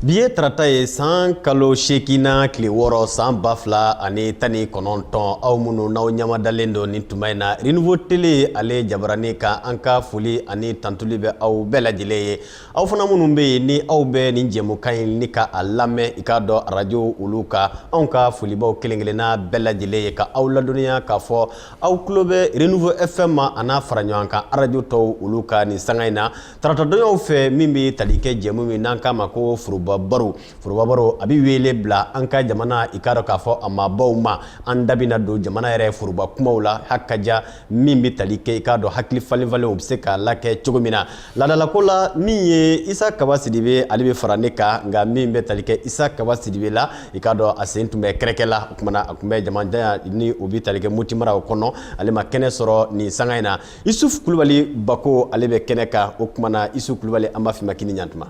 Bi ye tarata ye san kalo seeginnan tile wɔɔrɔ san ba fila ani tan ni kɔnɔntɔn aw minnu n'aw ɲamadalen don nin tuma in na Renouveau Télé ale jabarani kan an ka foli ani tantuli bɛ aw bɛɛ lajɛlen ye aw fana minnu bɛ yen ni aw bɛ nin jɛmukan in ni ka a lamɛn i k'a dɔn arajo olu kan anw ka foli b'aw kelenkelenna bɛɛ lajɛlen ye ka aw ladɔnniya k'a fɔ aw tulo bɛ Renouveau FM ma a n'a fara ɲɔgɔn kan arajo tɔw olu kan nin sanga in na taratadonyaw fɛ min bɛ tali kɛ jɛmu min n'an k'a ma ko foroba baro foroba baro a bɛ wele bila an ka jamana i k'a dɔn k'a fɔ a maabaw ma an da bɛna don jamana yɛrɛ foroba kumaw la hakaja min bɛ tali kɛ i k'a dɔn hakili falenfalen o bɛ se k'a lakɛ cogo min na laadalako la min ye isa kaba sidibe ale bɛ fara ne kan nka min bɛ tali kɛ isa kaba sidibe la i k'a dɔn a sen tun bɛ kɛrɛkɛ la o tuma na a tun bɛ jamana ni o bɛ tali kɛ moti mara o kɔnɔ ale ma kɛnɛ sɔrɔ nin sanga in na isufu kulubali bako ale bɛ kɛnɛ kan o tuma na isufu kulubali an b'a f'i ma k'i ni ɲantuma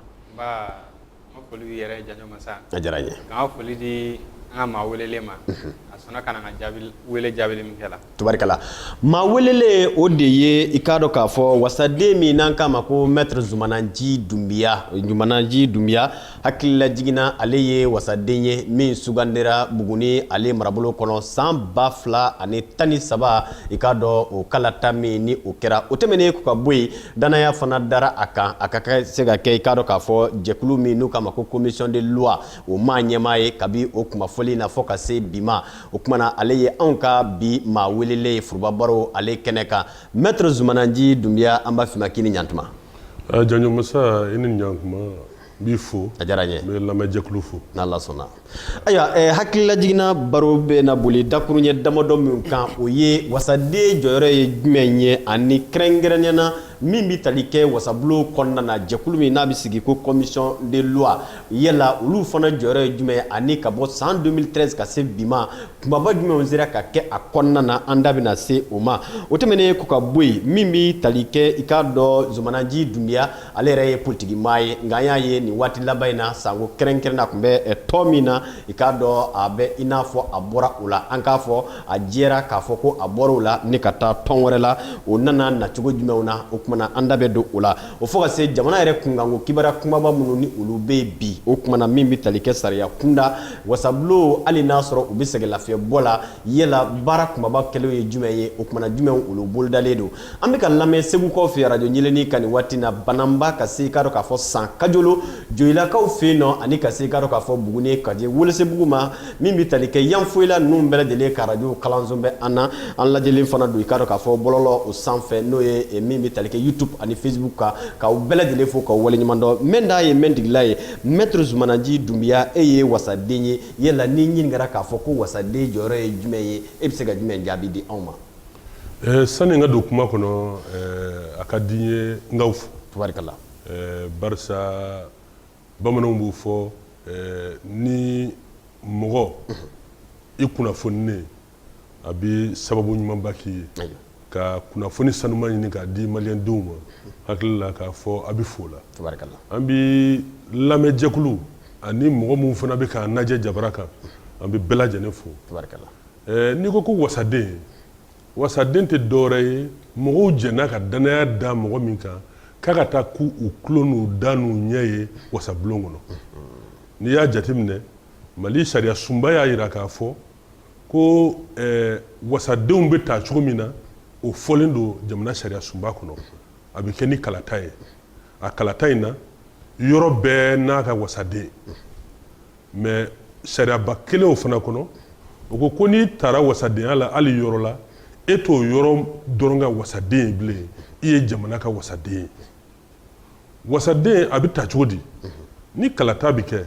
a diyara n ye foli di an ka maa welelen ma a sɔnna ka jaabi min la tabarikala maa welelen o de ye i k'a dɔn k'a fɔ wasaden min n'an k'a ma ko maître zumana nci dunbiya zumana nci dunbiya Hakilila jiginna ale ye wasaden ye min sugandira Buguni ale marabolo kɔnɔ san ba fila ani tan ni saba i k'a dɔn o kalata min ni o kɛra o tɛmɛnen kɔ ka bɔ yen danaya fana dara a kan a ka se ka kɛ i k'a dɔn k'a fɔ jɛkulu min n'u k'a ma ko commission de loi o maa ɲɛmaa ye kabi o tuma fɔlen na fo ka se bi ma o tuma na ale ye anw ka bi maa welelen ye Foroba Baro ale kɛnɛ kan Maître Zumana Nci Dunbiya an b'a f'i ma k'i ni ɲantuma. Aa Janjo masa i ni ɲantuma. n b'i fo a diyara n ye n bɛ lamɛnjɛkulu fo n'ala sɔnna ayiwa eh, hakilila jiginna baro bɛna boli dakuruɲɛ damadɔ min kan o ye wasaden jɔyɔrɔ ye jumɛn ye ani kɛrɛnkɛrɛnnenya na min bɛ tali kɛ wasabulon kɔnɔna na jɛkulu min n'a bɛ sigi ko commission de loi yala olu fana jɔyɔrɔ ye jumɛn ye ani ka bɔ san 2013 ka se bi ma kumaba jumɛnw sera ka kɛ a kɔnɔna na an da bɛna se o ma o tɛmɛnen kɔ ka bɔ yen min bɛ tali kɛ i k'a dɔn zumana nci dunbiya ale yɛrɛ ye politigi maa ye nka an y'a ye nin waati laban in na sanko kɛrɛnkɛrɛn na tun bɛ tɔn min na i k'a dɔn a bɛ i n'a fɔ a bɔra o la an k'a fɔ a jɛra k'a fɔ ko a bɔra o la ni ka taa tɔn wɛrɛ la o nana nacogo jumɛnw na o tuma na an da bɛ don o la o fo ka se jamana yɛrɛ kunkanko kibaruya kumaba minnu ni olu bɛ bi o tuma na min bɛ tali kɛ sariya kunda wasabulon hali n'a sɔrɔ u bɛ sɛgɛn lafiyɛnbɔ la yala baara kunbaba kɛlenw ye jumɛn ye o tuma na jumɛnw olu bolodalen don an bɛ ka lamɛn segukaw fɛ arajo ɲeleni kan nin waati na bananba ka se i k'a dɔn k'a fɔ san kajolo joyilakaw fɛ yen nɔ ani ka se i k'a dɔn k'a fɔ buguni ka di welesebugu ma min bɛ tali kɛ yanfoyila ninnu bɛɛ lajɛlen ka arajo kalanso bɛ an na an lajɛlen fana don i k'a dɔn k'a fɔ bɔlɔlɔw sanfɛ n'o ye eh, min bɛ tali kɛ youtube ani facebook kan k'aw bɛɛ lajɛlen fo k'aw waleɲuman dɔn mɛn da ye mɛn digila ye mɛtiri zumana nci dunbiya e ye wasaden ye yala n'i ɲininkara k'a fɔ ko wasaden jɔyɔrɔ ye jumɛn ye e bɛ se ka jumɛn jaabi di anw ma sani n ka don kuma kɔnɔ a ka di n ye n k'aw fo tubarikala barisa bamananw b'o fɔ ni mɔgɔ i kunnafoninen a bɛ sababu ɲumanba k'i ye ka kunnafoni sanuma ɲini k'a di maliyɛndenw ma hakili la k'a fɔ a bɛ fo la an bɛ lamɛnjɛkulu ani mɔgɔ minnu fana bɛ k'an lajɛ jabara kan an bɛ bɛɛ lajɛlen fo Eh, n'i ko ko wasaden wasaden tɛ dɔwɛrɛ ye mɔgɔw jɛnna ka dannaya da mɔgɔ min kan k'a ka taa k'u tulo n'u da n'u ɲɛ ye wasabulon kɔnɔ n'i y'a jateminɛ mali sariya sunba y'a jira k'a fɔ ko eh, wasadenw bɛ ta cogo min na o fɔlen don jamana sariya sunba kɔnɔ a bɛ kɛ ni kalata ye a kalata in na yɔrɔ bɛɛ n'a ka wasaden mais sariyaba kelen o fana kɔnɔ o ko ko n'i taara wasadenya la hali yɔrɔ la e t'o yɔrɔ dɔrɔn ka wasaden ye bilen i ye jamana ka wasaden ye wasaden a bɛ ta cogo di ni kalata bɛ kɛ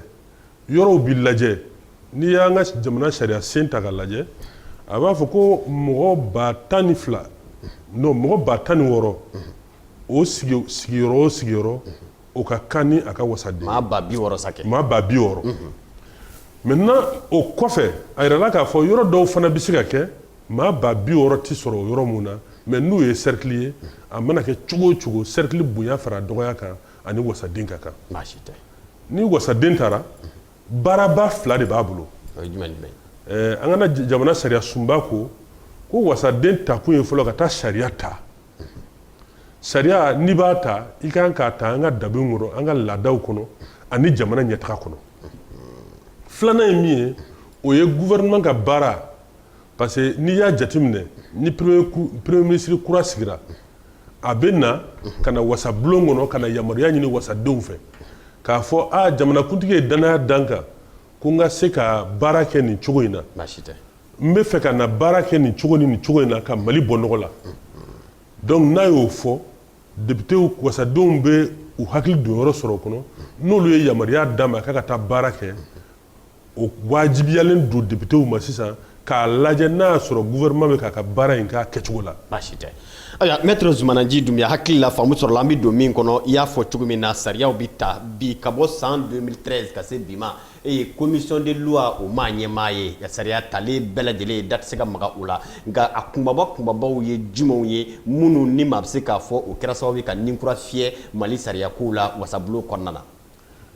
yɔrɔw bɛ lajɛ n'i y'an ka jamana sariya sen ta k'a lajɛ a b'a fɔ ko mɔgɔ ba tan ni fila non mɔgɔ ba tan ni wɔɔrɔ o sigiyɔrɔ o sigiyɔrɔ o ka kan ni a ka wasaden maa ba bi wɔɔrɔ sa kɛ maa ba bi wɔɔrɔ maintenant o kɔfɛ a yirala k'a fɔ yɔrɔ dɔw fana bɛ se ka kɛ maa ba bi wɔɔrɔ tɛ sɔrɔ o yɔrɔ min na mais n'u ye cercle ye a mana kɛ cogo o cogo cercle bonya fara dɔgɔya kan a ni wasaden ka kan baasi tɛ ni wasaden taara baaraba fila de b'a bolo o ye jumɛn ni jumɛn ye ɛɛ an ka na jamana sariya sunba ko ko wasaden takun ye fɔlɔ ka taa sariya ta sariya n'i b'a ta i ka kan k'a ta an ka danbew kɔnɔ an ka laadaw kɔnɔ ani jamana ɲɛtaga kɔnɔ filanan ye min ye o ye gouvernement ka baara parce que n'i y'a jateminɛ ni premier ministre kura sigira a bɛ na ka na wasabulon kɔnɔ ka na yamaruya ɲini wasadenw fɛ k'a fɔ a jamanakuntigi ye dannaya da n kan ko n ka se ka baara kɛ nin cogo in na baasi tɛ n bɛ fɛ ka na baara kɛ nin cogo ni nin cogo in na ka mali bɔ nɔgɔ la donc n'a y'o fɔ depitew wasadenw bɛ u hakili don yɔrɔ sɔrɔ o kɔnɔ n'olu ye yamaruya d'a ma k'a ka taa baara kɛ o wajibiyalen don depitew ma sisan k'a lajɛ n'a y'a sɔrɔ gouvernement bɛ k'a ka baara in k'a kɛcogo la baasi tɛ ayiwa maître zumana nci dunbiya hakili la faamu sɔrɔla an bɛ don min kɔnɔ i y'a fɔ cogo min na sariyaw bɛ ta bi ka bɔ san 2013 ka se bi ma e ye commission de loi o maa ɲɛmaa ye sariya talen bɛɛ lajɛlen ye da tɛ se ka maga o la nka a kunbaba kunbabaw ye jumɛnw ye minnu ni maa bɛ se k'a fɔ o kɛra sababu ye ka ni kura fiyɛ mali sariyakow la wasabulon kɔnɔna na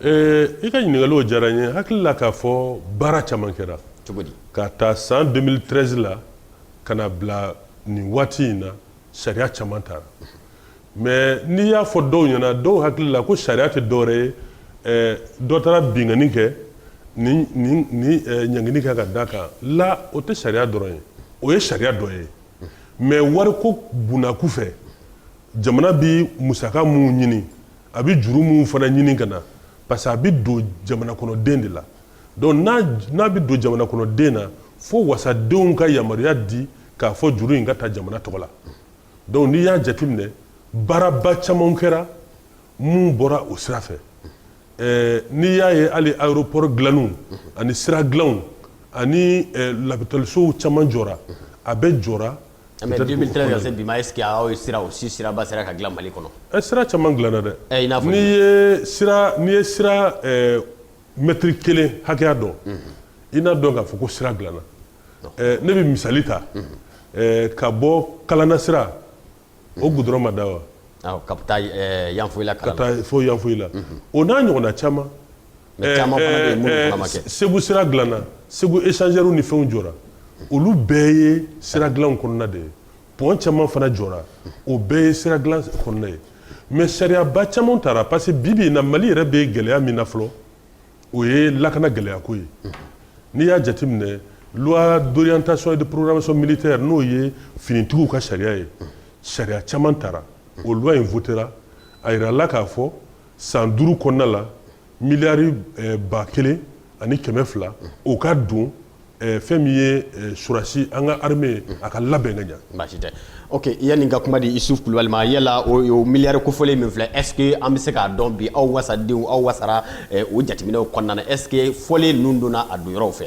ee, i ka ɲininkaliw diyara n ye hakili la k'a fɔ baara caman kɛra cogo di ka ta san 2013 la ka na bila nin waati in na sariya caman tara mais n'i y'a fɔ dɔw ɲɛna dɔw hakili la ko sariya tɛ dɔwɛrɛ ye eh, dɔ taara binkanni kɛ ni eh, ɲangini kɛ ka da kan la o tɛ sariya dɔrɔn ye o ye sariya dɔ ye mais wariko bunnaku fɛ jamana bi musaka minnu ɲini a bɛ juru minnu fana ɲini ka na parce que a bɛ don jamana kɔnɔden de la donc n'a bɛ don jamana kɔnɔden na fo wasadenw ka yamaruya di k'a fɔ juru in ka ta jamana tɔgɔ la donc n'i y'a jateminɛ baaraba caman kɛra mun bɔra o sira fɛ eh, n'i y'a ye hali aéroport dilanniw ani sira dilanw ani eh, lapitalisow caman jɔra a bɛɛ jɔra mais 2013 ka se bi ma est ce que aw ye sira o si siraba sera ka dilan mali kɔnɔ ɛ sira caman dilanna dɛ ɛ i n'a fɔ n'i ye sira n'i ye sira mɛtiri kelen hakɛya dɔn i n'a dɔn k'a fɔ ko sira dilanna ne bɛ misali ta ka bɔ kalana sira o goudron ma da wa ka taa yanfolila ka taa fo yanfolila o n'a ɲɔgɔnna caman segu sira dilanna segu échangeurs ni fɛnw jɔra olu bɛɛ ye sira dilanw kɔnɔna de ye pont caman fana jɔra o bɛɛ ye sira dilan kɔnɔna ye mais sariyaba caman tara parce que bibi in na mali yɛrɛ bɛ gɛlɛya min na fɔlɔ o ye lakana gɛlɛya ko ye n'i y'a jateminɛ loi d'orientation et de programmation militaire n'o ye finitigiw ka sariya ye sariya caman tara o loi in votera a yirala k'a fɔ san duuru kɔnɔna la miliyari eh, ba kelen ani kɛmɛ fila o ka don Eh, fɛn min ye eh, surasi an ka armée a ka labɛn ka ɲa baasi tɛ ok yanni ka kuma di Isuf Kulubali ma yala o, o miliyari kofɔlen min filɛ est ce que an bɛ se k'a dɔn bi aw wasadenw aw wasara eh, o jateminɛw kɔnɔna na est ce que fɔlen ninnu donna a don yɔrɔw fɛ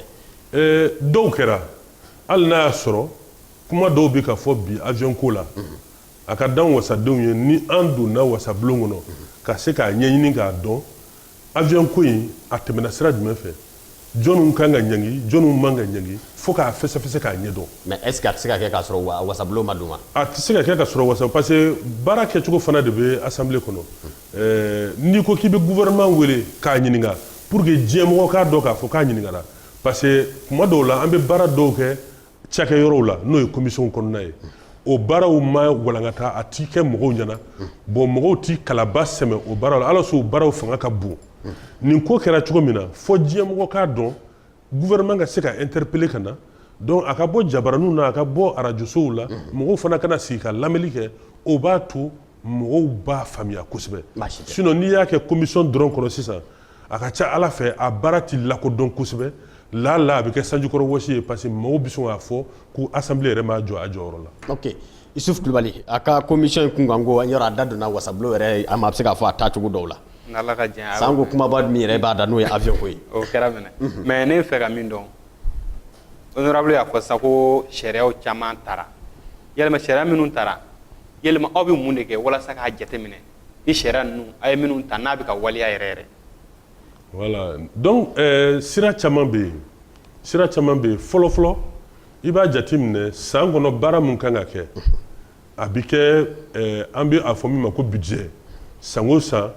eh, dɔw kɛra hali n'a y'a sɔrɔ kuma dɔw bɛ ka fɔ bi avion ko la a ka d'an wasadenw ye ni an donna wasabulon kɔnɔ ka se k'a ɲɛɲini k'a dɔn Avion ko in a tɛmɛna sira jumɛn fɛ? Jɔniw kan ka ɲangi, jɔniw man ka ɲangi fo k'a fɛsɛfɛsɛ k'a ɲɛdɔn. Mais est ce que a tɛ se ka kɛ k'a sɔrɔ wa wasabulon ma don wa? A tɛ se ka kɛ ka sɔrɔ wasa parce que baara kɛcogo fana de bɛ Assemblée kɔnɔ. Ɛɛ n'i ko k'i bɛ gouvernement wele k'a ɲininka pour que diɲɛmɔgɔ k'a dɔn k'a fɔ k'a ɲininkara parce que tuma dɔw la an bɛ baara dɔw kɛ cakɛyɔrɔw la n'o ye commission kɔnɔna ye o baaraw ma walankata a ti kɛ mɔgɔw ɲɛna bon mɔgɔw ti kalaba sɛmɛ o baaraw la alors que o baaraw fanga ka bon nin ko kɛra cogo min na fo diɲɛmɔgɔ k'a dɔn gouvernement ka se ka interpeller ka na donc a ka bɔ jabaraninw na a ka bɔ arajosow la mɔgɔw fana ka na sigi ka lamɛli kɛ o b'a to mɔgɔw b'a faamuya kosɛbɛ sinon n'i y'a kɛ commission dɔrɔn kɔnɔ sisan a ka ca a la fɛn a baara tɛ lakodɔn kosɛbɛ la la a bɛ kɛ sanjikɔrɔ wɔsi ye parce que mɔgɔw bɛ sɔn k'a fɔ ko Assemblée yɛrɛ m'a jɔ a jɔyɔrɔ la ok isufu kulubali a ka commission in kunkanko yɛrɛ a da donna wasabulon yɛrɛ a maa bɛ se k'a fɔ a taacogo dɔw la sanko kumaba min yɛrɛ b'a da n'o ye avion ko ye o kɛra minɛ mhm. mais ne fɛ ka min dɔn honorable y'a fɔ sisan ko sariyaw caman tara yɛlɛma sariya minnu tara yɛlɛma aw bɛ mun de kɛ walasa k'a jateminɛ ni sariya ninnu a ye minnu ta n'a bɛ ka waleya yɛrɛ yɛrɛ voilà donc euh, sira caman bɛ yen sira caman bɛ yen fɔlɔ fɔlɔ i b'a jateminɛ san kɔnɔ baara mun kan ka kɛ a bɛ kɛ euh, an bɛ a fɔ min ma ko budget san o san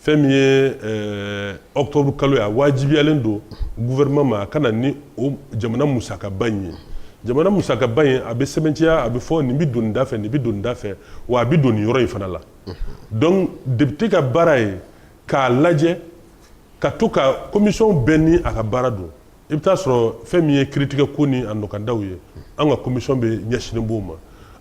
fɛn min ye euh, octobre kalo ye a wajibiyalen don gouvernement ma a ka na ni o jamana musakaba in ye jamana musakaba in a bɛ sɛbɛntiya a bɛ fɔ nin bɛ don nin da fɛ nin bɛ don nin da fɛ wa a bɛ don nin yɔrɔ in fana la donc député ka baara ye k'a lajɛ ka to ka commission bɛɛ ni a ka baara don i bɛ t'a sɔrɔ fɛn min ye kiiritigɛ ko ni a nɔkandaw ye an ka commission de ɲɛsinnen b'o ma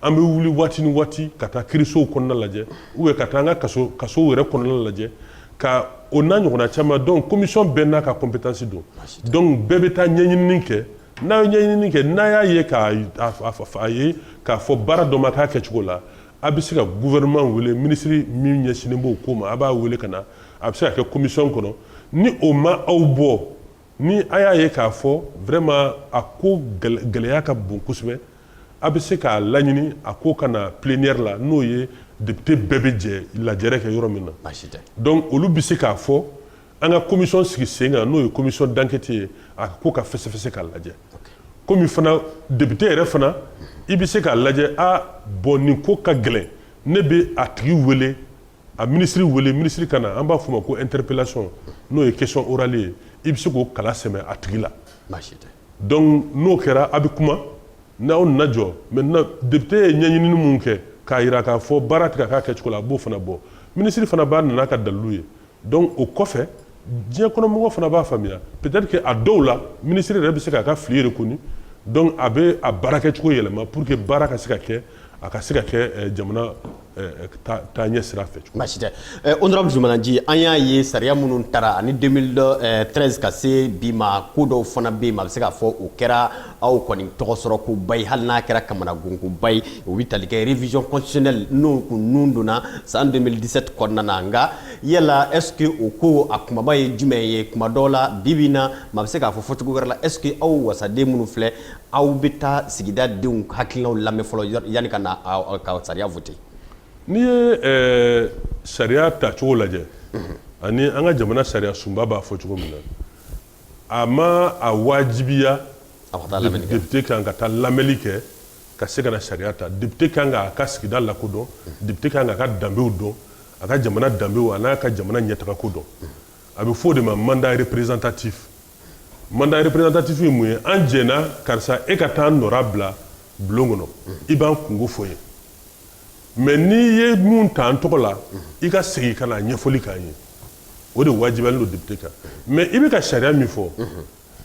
an bɛ wuli waati ni waati ka taa kiirisow kɔnɔna lajɛ ou bien ka taa an ka kasow yɛrɛ kɔnɔna lajɛ ka o n'a ɲɔgɔnna caman donc commission bɛɛ n'a ka compétence don donc bɛɛ bɛ taa ɲɛɲinini kɛ n'a ye ɲɛɲinini kɛ n'a y'a ye k'a a ye k'a fɔ baara dɔ ma k'a kɛcogo la a bɛ se ka gouvernement wele minisiri min ɲɛsinnen b'o ko ma a b'a wele ka na a bɛ se ka kɛ commission kɔnɔ ni o ma aw bɔ ni a y'a ye k'a fɔ vraiment a ko gɛlɛya ka bon kosɛbɛ a bɛ se k'a laɲini a ko ka na plénière la n'o ye député bɛɛ bɛ jɛ lajɛrɛ kɛ yɔrɔ min na donc olu bɛ se k'a fɔ an ka commission sigi sen kan n'o ye commission d'enquête ye a ko ka fɛsɛfɛsɛ k'a lajɛ komi fana député yɛrɛ fana i bɛ se k'a lajɛ a bon nin ko ka gɛlɛn ne bɛ a tigi wele a minisiri wele minisiri ka na an b'a fɔ o ma ko interpellation n'o ye question orale ye i bɛ se k'o kala sɛmɛ a tigi la donc n'o kɛra a bɛ kuma n'aw nana jɔ maintenant député ye ɲɛɲinini minnu kɛ k'a jira k'a fɔ baara tɛ ka k'a kɛcogo la a b'o fana bɔ minisiri fana bɛ na n'a ka dalu ye donc o kɔfɛ diɲɛ kɔnɔmɔgɔ fana b'a faamuya peut-être que a dɔw la minisiri yɛrɛ bɛ se k'a ka fili reconnu donc a bɛ a baara kɛ cogo yɛlɛma pour que baara ka se ka kɛ a ka se ka kɛ eh, jamana eh, eh, taa ɲɛ sira fɛ baasi tɛ honorable Zoumana N'Tji an y'a ye sariya minnu tara ani 2013 ka se bi ma ko dɔw fana bɛ yen a bɛ se k'a fɔ o kɛra aw kɔni tɔgɔ sɔrɔ koba ye hali n'a kɛra kamanagankoba ye o bɛ tali kɛ révision constitutionnelle n'o kun nun donna san 2017 kɔnɔna na nka yala est ce que o ko a kumaba ye jumɛn ye kuma dɔw la bi bi in na maa bɛ se k'a fɔ fɔcogo wɛrɛ la est ce que aw wasaden minnu filɛ aw bɛ taa sigida denw hakilinaw lamɛn fɔlɔ yanni ka na ka sariya voter n'i ye eh, sariya tacogo lajɛ ani an ka jamana sariya sunba b'a fɔ cogo min na A ma a wajibiya député kan ka taa lamɛnni kɛ ka se ka na sariya ta député kan k'a ka sigida la ko dɔn député kan k'a ka danbew dɔn a ka jamana danbew a n'a ka jamana ɲɛtagako dɔn a bɛ fɔ o de ma mandat représentatif mandat représentatif ye mun ye an jɛnna karisa e ka taa an nɔrɔ bila bulon kɔnɔ i b'an kunko fɔ yen mais n'i ye min ta an tɔgɔ la i ka segin ka na ɲɛfɔli k'an ye o de wajibiyalen don député kan mais i bɛ ka sariya min fɔ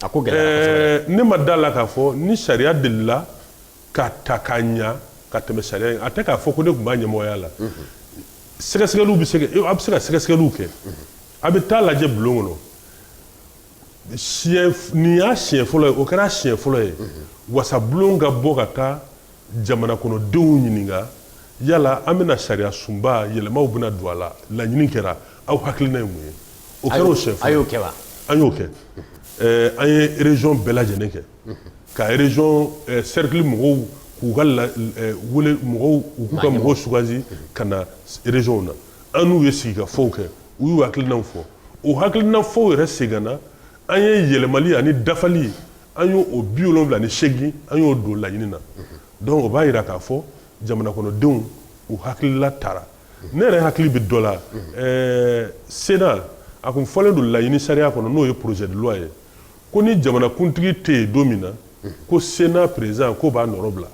a ko ne ma da la k'a fɔ ni sariya delila ka ta ka ɲɛ ka tɛmɛ sariya in a tɛ k'a fɔ ko ne tun b'a ɲɛmɔgɔya la sɛgɛsɛgɛliw bɛ se a bɛ se ka sɛgɛsɛgɛliw kɛ a bɛ taa lajɛ bulon kɔnɔ nin y'a siɲɛ fɔlɔ ye o kɛra siɲɛ fɔlɔ ye wasa bulon ka bɔ ka taa Jamana kɔnɔ denw ɲininka yala an bɛna sariya sunba yɛlɛmaw bɛna don a la laɲini kɛra aw hakilina ye mun ye o kɛra sen an y'o kɛ an y'o kɛ an ye région bɛɛ lajɛlen kɛ ka région cercle mɔgɔw k'u ka k'u ka mɔgɔw sugandi ka na régionw na an n'u ye sigikafɔ kɛ u y'u hakilinaw fɔ o hakilina fɔ yɛrɛ seginna an ye yɛlɛmali ani dafali an y'o o biwolonwula ni segin an y'o don laɲini na donc o b'a jira k'a fɔ jamana kɔnɔdenw u hakilila tara ne yɛrɛ hakili bɛ dɔ la ɛɛ Sénat a kun fɔlen don laɲini sariya kɔnɔ n'o ye projet de loi ye ko ni jamanakuntigi tɛ yen don min na ko Sénat président k'o b'a nɔrɔ bila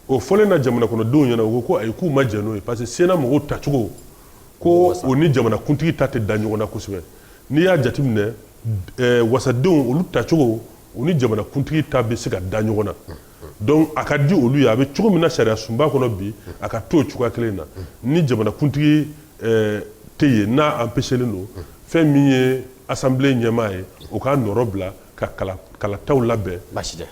o fɔlen na jamana kɔnɔdenw ɲɛna u ko ko ayi k'u ma jɛn n'o ye parce que Sénat mɔgɔw tacogo ko o ni jamana kuntigi ta tɛ da ɲɔgɔn na kosɛbɛ n'i y'a jateminɛ eh, wasadenw olu tacogo o ni jamana kuntigi ta bɛ se ka da ɲɔgɔn na donc a ka di olu ye a bɛ cogo min na sariya sunba kɔnɔ bi a ka to o cogoya kelen na ni jamana kuntigi eh, tɛ yen n'a empêchelen don fɛn min ye assemblée ɲɛmaa ye o k'a nɔrɔ bila ka kalataw labɛn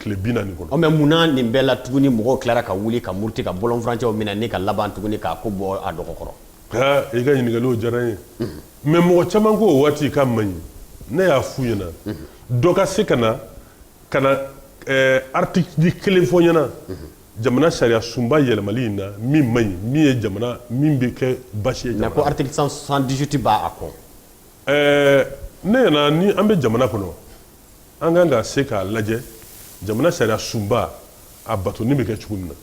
tile bi naani kɔnɔ mais munna nin bɛɛ la tuguni mɔgɔw tilara ka wuli ka muruti ka bɔlɔnfurancɛw minɛ ni ka laban tuguni k'a ko bɔ a dɔgɔ kɔrɔ i ka ɲininkaliw diyara n ye mais mɔgɔ caman ko o waati k'a man ɲi ne y'a f'u ɲɛna dɔ ka se ka na ka na article kelen fɔ ɲɛna jamana sariya sunba yɛlɛmali in na min man ɲi min ye jamana min bɛ kɛ basi ye ko article 118 b'a kɔ Ɛɛ ne ɲɛna ni an bɛ jamana kɔnɔ an kan ka se k'a lajɛ jamana sariya sunba a batoni bɛ kɛ cogo min na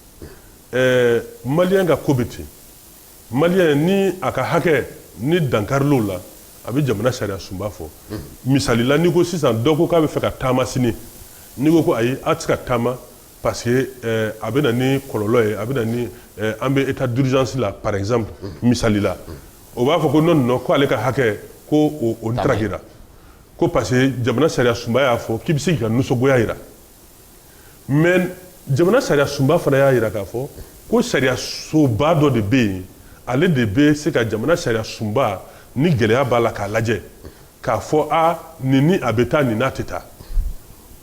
ɛɛ maliyɛn ka ko bɛ ten maliyɛn ni a ka hakɛ ni dankaril'o la a bɛ jamana sariya sunba fɔ misali la n'i ko sisan dɔ ko k'a bɛ fɛ ka taama sini n'i ko ayi a tɛ se ka taama parce que a bɛ na ni kɔlɔlɔ ye a bɛ na ni an bɛ état d'urgence la par exemple misali la o b'a fɔ ko non non ko ale ka hakɛ ko o ntarakira ko parce que jamana sariya sunba y'a fɔ k'i bɛ se k'i ka nisɔngoya jira mais jamana sariya sunba fana y'a jira k'a fɔ ko sariya soba dɔ de bɛ yen ale de bɛ se ka jamana sariya sunba ni gɛlɛya b'a la k'a lajɛ k'a fɔ a nin ni a bɛ taa nin n'a tɛ taa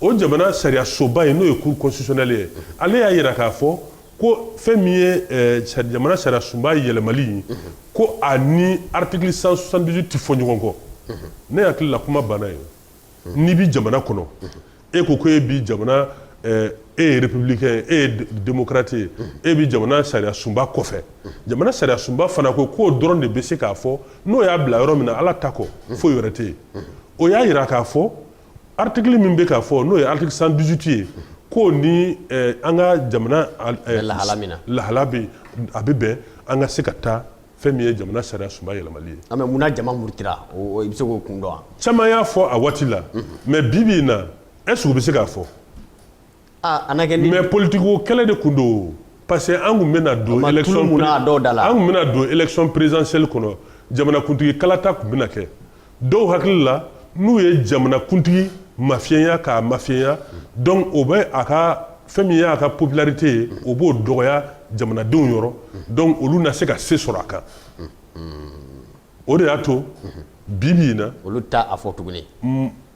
o jamana sariya soba in n'o ye cour constitutionnelle ye ale y'a jira k'a fɔ ko fɛn min ye eh, jamana sariya sunba yɛlɛmali ye ko a ni article 118 tɛ fɔ ɲɔgɔn kɔ ne hakili la kuma banna yen n'i bi jamana kɔnɔ e ko ko e bi jamana eh, e ye républicain e ye démocrate ye e bi jamana sariya sunba kɔfɛ jamana sariya sunba fana ko k'o dɔrɔn de bɛ se k'a fɔ n'o y'a bila yɔrɔ min na ala ta kɔ foyi wɛrɛ tɛ yen o y'a yira k'a fɔ Article min bɛ k'a fɔ n'o ye article 118 ye ko ni an ka jamana lahala bi a bɛ bɛn an ka se ka taa fɛn min ye jamana sariya sunba yɛlɛmali ye mais munna jama murutira o i bɛ se k'o kun dɔn wa caman y'a fɔ a waati la mais bi bi in na est-ce que u bɛ se k'a fɔ mais politique ko kɛlɛ de kun don parce que an kun bɛ an kun bɛna don élection présidentielle kɔnɔ jamanakuntigi kalata kun bɛna kɛ dɔw hakili la n'u ye jamanakuntigi mafiyɛnya k'a mafiyɛnya donc o bɛ a ka fɛn min y'a ka popularité ye o b'o dɔgɔya jamanadenw yɔrɔ donc olu na se ka se sɔrɔ a kan o de y'a to bi bi in na olu t'a fɔ tuguni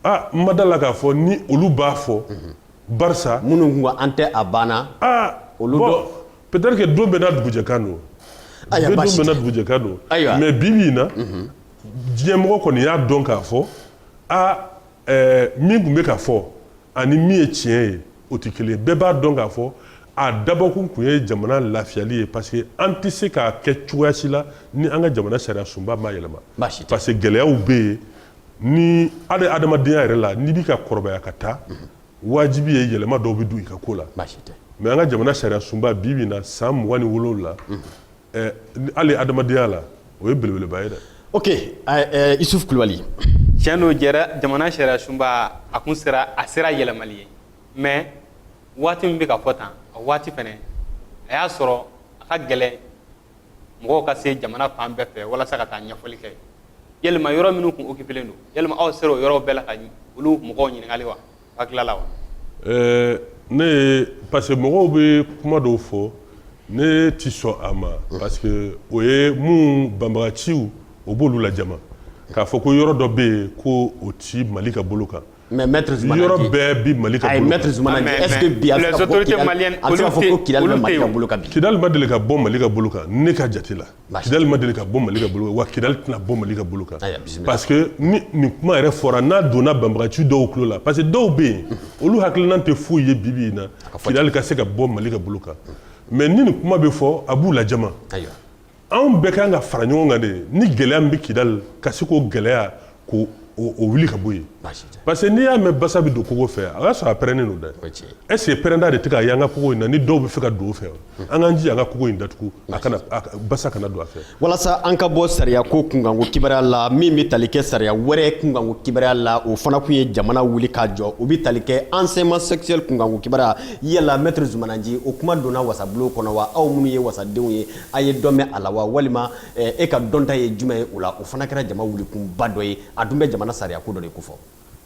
aa n ma da la k'a fɔ ni olu b'a fɔ barisa minnu tun ko an tɛ a banna aa olu bon, dɔ- peut-être que don bɛɛ n'a dugujɛkan don don bɛɛ n'a dugujɛkan don mais bi bi in na diɲɛmɔgɔ kɔni y'a dɔn k'a fɔ aa ɛɛ min tun bɛ ka fɔ ani min ye tiɲɛ ye o tɛ kelen bɛɛ b'a dɔn k'a fɔ a dabɔkun tun ye jamana lafiyali ye parce que an tɛ se k'a kɛ cogoya si la ni an ka jamana sariya sunba ma yɛlɛma parce que gɛlɛyaw bɛ yen ni hali adamadenya yɛrɛ la n'i bɛ ka kɔrɔbaya ka taa wajibi ye yɛlɛma dɔw bɛ don i ka ko la mais an ka jamana sariya sunba bi bi in na san mugan ni wolonwula Ɛɛ ni hali adamadenya la o ye belebeleba ye dɛ ok ɛɛ isufu kulubali tiɲɛ don ɛɛ jamana sariya sunba a kun sera a sera yɛlɛmali ye mais waati min bɛ ka fɔ tan a waati fɛnɛ a y'a sɔrɔ a ka gɛlɛn mɔgɔw ka se jamana fan bɛɛ fɛ walasa ka taa ɲɛfɔli kɛ yalima yɔrɔ minnu kun okipelen don yalima aw sera o yɔrɔw bɛɛ la ka olu mɔgɔw ɲininkali wa A tilala wa? Ɛɛ ne ye parce que mɔgɔw bɛ kuma dɔw fɔ ne tɛ sɔn a ma parce que o ye mun banbagaciw o b'olu lajama k'a fɔ ko yɔrɔ dɔ bɛ yen ko o tɛ Mali ka bolo kan mais maitre Zumana yɔrɔ bɛɛ bɛ Mali ka bolo kan, ayi maitre Zumana Nci est ce que bi a bɛ se ka fɔ ko Kidali bɛ Mali ka bolo kan bi? Kidali ma deli ka bɔ Mali ka bolo kan ne ka jate la kidali ma deli ka bɔ mali ka bolo wa kidali tɛna bɔ mali ka bolo kan parce que ni nin kuma yɛrɛ fɔra n'a donna banbagaci dɔw tulo la parce que dɔw bɛ yen olu hakilina tɛ foyi ye bi bi in na kidali ka se ka bɔ mali ka bolo kan mais ni nin kuma bɛ fɔ a b'u lajama anw bɛɛ ka kan ka fara ɲɔgɔn kan de ni gɛlɛya min bɛ kidali ka se k'o gɛlɛya k'o wuli ka bɔ yen parce que n'i y'a mɛn basa bɛ don kogo fɛ a y'a sɔrɔ a pɛrɛnnen don dɛ est ce que pɛrɛnda de tɛ ka ye an ka kogo in na ni dɔw bɛ fɛ ka don o fɛ an k'an jija an ka kogo in datugu a kana basa kana don a fɛ walasa an ka bɔ sariya ko kunkanko kibaruya la min bɛ tali kɛ sariya wɛrɛ kunkanko kibaruya la o fana tun ye jamana wuli k'a jɔ o bɛ tali kɛ enseignement sexuel kunkanko kibaruya yala maître Zumana Nci o kuma donna wasabulon kɔnɔ wa aw minnu ye wasadenw ye a ye dɔ mɛn a la wa walima e ka dɔnta ye jumɛn ye o la o fana kɛra jama wulikunba dɔ ye a dun bɛ jamana sariya ko dɔ de ko fɔ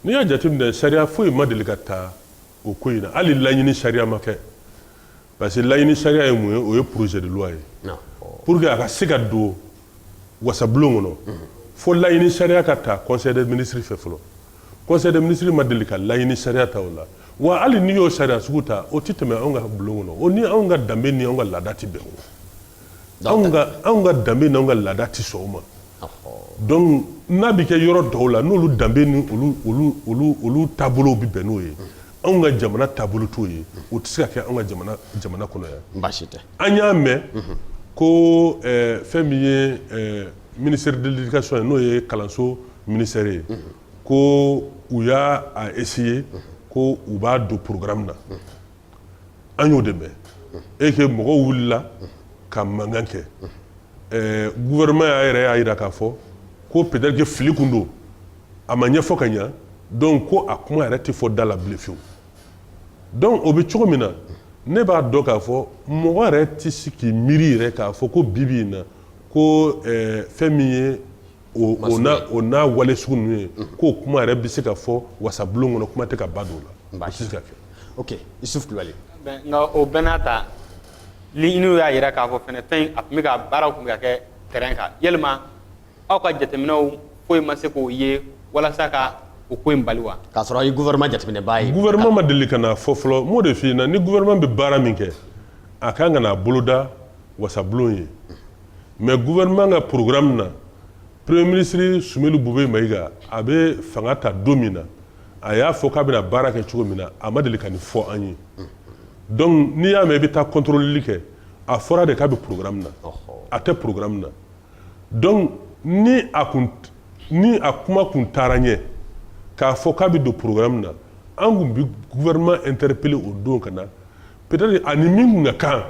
n'i y'a jateminɛ sariya foyi ma deli ka ta o ko in na hali laɲini sariya ma kɛ parce que laɲini sariya ye mun ye o ye projet de loi ye pour que a ka se ka don wasabulon kɔnɔ fo laɲini sariya ka ta conseil des ministres fɛ fɔlɔ conseil des ministres ma deli ka laɲini sariya ta o la wa hali n'i y'o sariya sugu ta o tɛ tɛmɛ anw ka bulon kɔnɔ o ni anw ka danbe ni anw ka laada tɛ bɛn o anw ka danbe ni anw ka laada tɛ sɔn o ma donc n'a bɛ kɛ yɔrɔ dɔw la n'olu danbe ni olu taabolow bɛ bɛn n'o ye anw ka jamana taabolo t'o ye o tɛ se ka kɛ an ka jamana kɔnɔ yan baasi tɛ an y'a mɛn ko fɛn min ye ministère de l'éducation ye n'o ye kalanso ministère ye ko u y'a essayer ko u b'a don programme na an y'o de mɛn et que mɔgɔw wulila ka mankan kɛ gouvernement yɛrɛ y'a jira k'a fɔ ko peut-être que fili kun don a ma ɲɛfɔ ka ɲa donc ko a kuma yɛrɛ tɛ fɔ da la bilen fewu donc o bɛ cogo min na ne b'a dɔn k'a fɔ mɔgɔ yɛrɛ tɛ se k'i miiri yɛrɛ k'a fɔ ko bi bi in na ko fɛn min ye o n'a wale sugu ninnu ye k'o kuma yɛrɛ bɛ se ka fɔ wasabulon kɔnɔ kuma tɛ ka ba don o la o tɛ se ka kɛ ok Isuf Kulubali nka o bɛɛ n'a ta ninnu y'a jira k'a fɔ fɛn a tun bɛ ka baara tun bɛ ka kɛ terrain kan yalima aw ka jateminɛw foyi ma se k'o ye walasa ka o ko in bali wa k'a sɔrɔ a ye gouvernement jateminɛbaa ye gouvernement ma deli ka n'a fɔ fɔlɔ n b'o de f'i ɲɛna ni gouvernement bɛ baara min kɛ a ka kan ka na a boloda wasabulon ye mais gouvernement ka programme na premier ministre Sumelu Bube Mayiga a bɛ fanga ta don min na a y'a fɔ k'a bɛna baara kɛ cogo min na a ma deli ka nin fɔ an ye donc n'i y'a mɛn i bɛ taa contrôleli kɛ a fɔra de k'a bɛ programme na a tɛ programme na donc ni a kun ni a kuma kun taara ɲɛ k'a fɔ k'a bɛ don programme na an kun bɛ gouvernement interpeller o don ka na peut-être ani min kun ka kan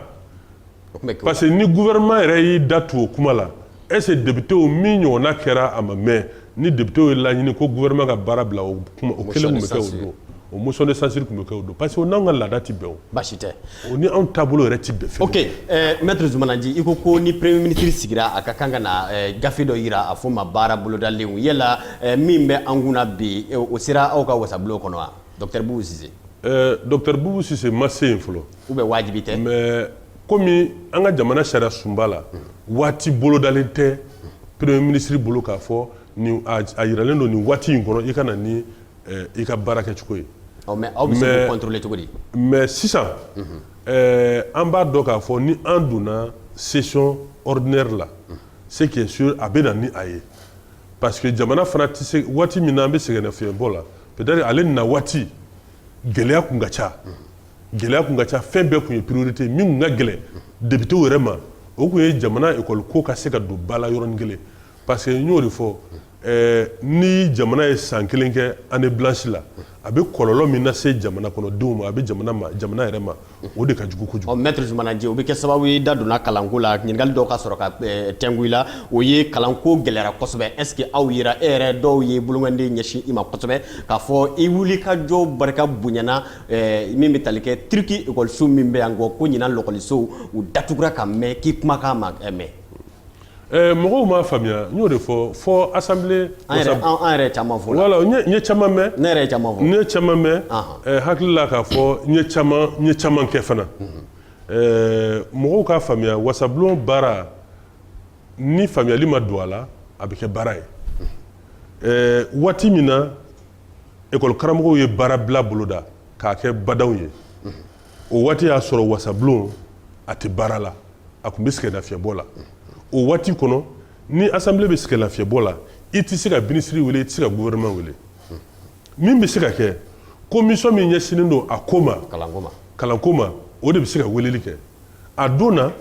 parce que ni gouvernement yɛrɛ y'i da tugu o kuma la est ce que députés min ɲɔgɔnna kɛra a ma mɛn ni députés y'a laɲini ko gouvernement ka baara bila o kuma o kelen kun bɛ kɛ o don o motion de censure kun bɛ kɛ o don parce que o n'anw ka laada tɛ bɛn o baasi tɛ o ni anw taabolo yɛrɛ tɛ bɛn fɛn ok eh, maître Zumanaji i ko ko ni premier ministre sigira a ka kan ka na eh, gafe dɔ yira a fɔ ma baara bolodalenw yala eh, min bɛ an kunna bi eh, o sera aw ka wasabulon kɔnɔ wa docteur Bubu Sise. Eh, docteur Bubu Sise ma se yen fɔlɔ. ou bien wajibi tɛ mais komi an ka jamana sariya sunba la waati bolodalen tɛ premier ministre bolo k'a fɔ a yiralen don nin waati in kɔnɔ i ka na ni i ka baarakɛcogo ye mais aw bɛ se k'o contrôler cogo di mais sisan an b'a dɔn k'a fɔ ni an donna session ordinaire la ce qui est sûr a bɛ na ni a ye parce que jamana fana tɛ se waati min na an bɛ sɛgɛnnafiɲɛbɔ la peut-être ale na waati gɛlɛya kun ka ca gɛlɛya kun ka ca fɛn bɛɛ kun ye priorité min kun ka gɛlɛn députés yɛrɛ ma o kun ye jamana ekɔli ko ka se ka don ba la yɔrɔnin kelen parce que n y'o de fɔ eh, ni jamana ye san kelen kɛ année blanche la a bɛ kɔlɔlɔ min lase jamana kɔnɔdenw ma a bɛ jamana ma jamana yɛrɛ ma o de ka jugu kojugu. ɔ maître Zumanaji o bɛ kɛ sababu ye i da donna kalanko la ɲininkali dɔw ka sɔrɔ ka eh, tɛngu i la o ye kalanko gɛlɛyara kosɛbɛ est ce que aw yera e yɛrɛ dɔw ye bolomanden ɲɛsin i ma kosɛbɛ k'a fɔ i wulikajɔ barika bonyana Eh, min bɛ tali kɛ turki ekɔliso min bɛ yan ko ko ɲinan lɔkɔlisow u datugura ka mɛn k'i kumakan ma eh, mɛn eh, mɔgɔw m'a faamuya n y'o de fɔ fɔ assemblée an yɛrɛ caman fɔ voilà n ye caman mɛn ne yɛrɛ caman fɔ n ye caman mɛn hakili la k'a fɔ n ye caman n ye caman kɛ fana mhm. mɔgɔw k'a faamuya wasablon baara ni faamuyali ma don a la a bɛ kɛ baara ye mhm. waati min na Ekɔli karamɔgɔw ye baara bila boloda k'a kɛ badaw ye o waati y'a sɔrɔ wasablon a tɛ baara la a tun bɛ sɛgɛn lafiyɛnbɔ la o waati kɔnɔ ni assemblée bɛ sɛgɛn lafiyɛnbɔ la i tɛ se ka ministre weele i tɛ se ka gouvernement weele min bɛ se ka kɛ commission min ɲɛsinnen don a ko ma kalanko ma o de bɛ se ka weeleli kɛ a don na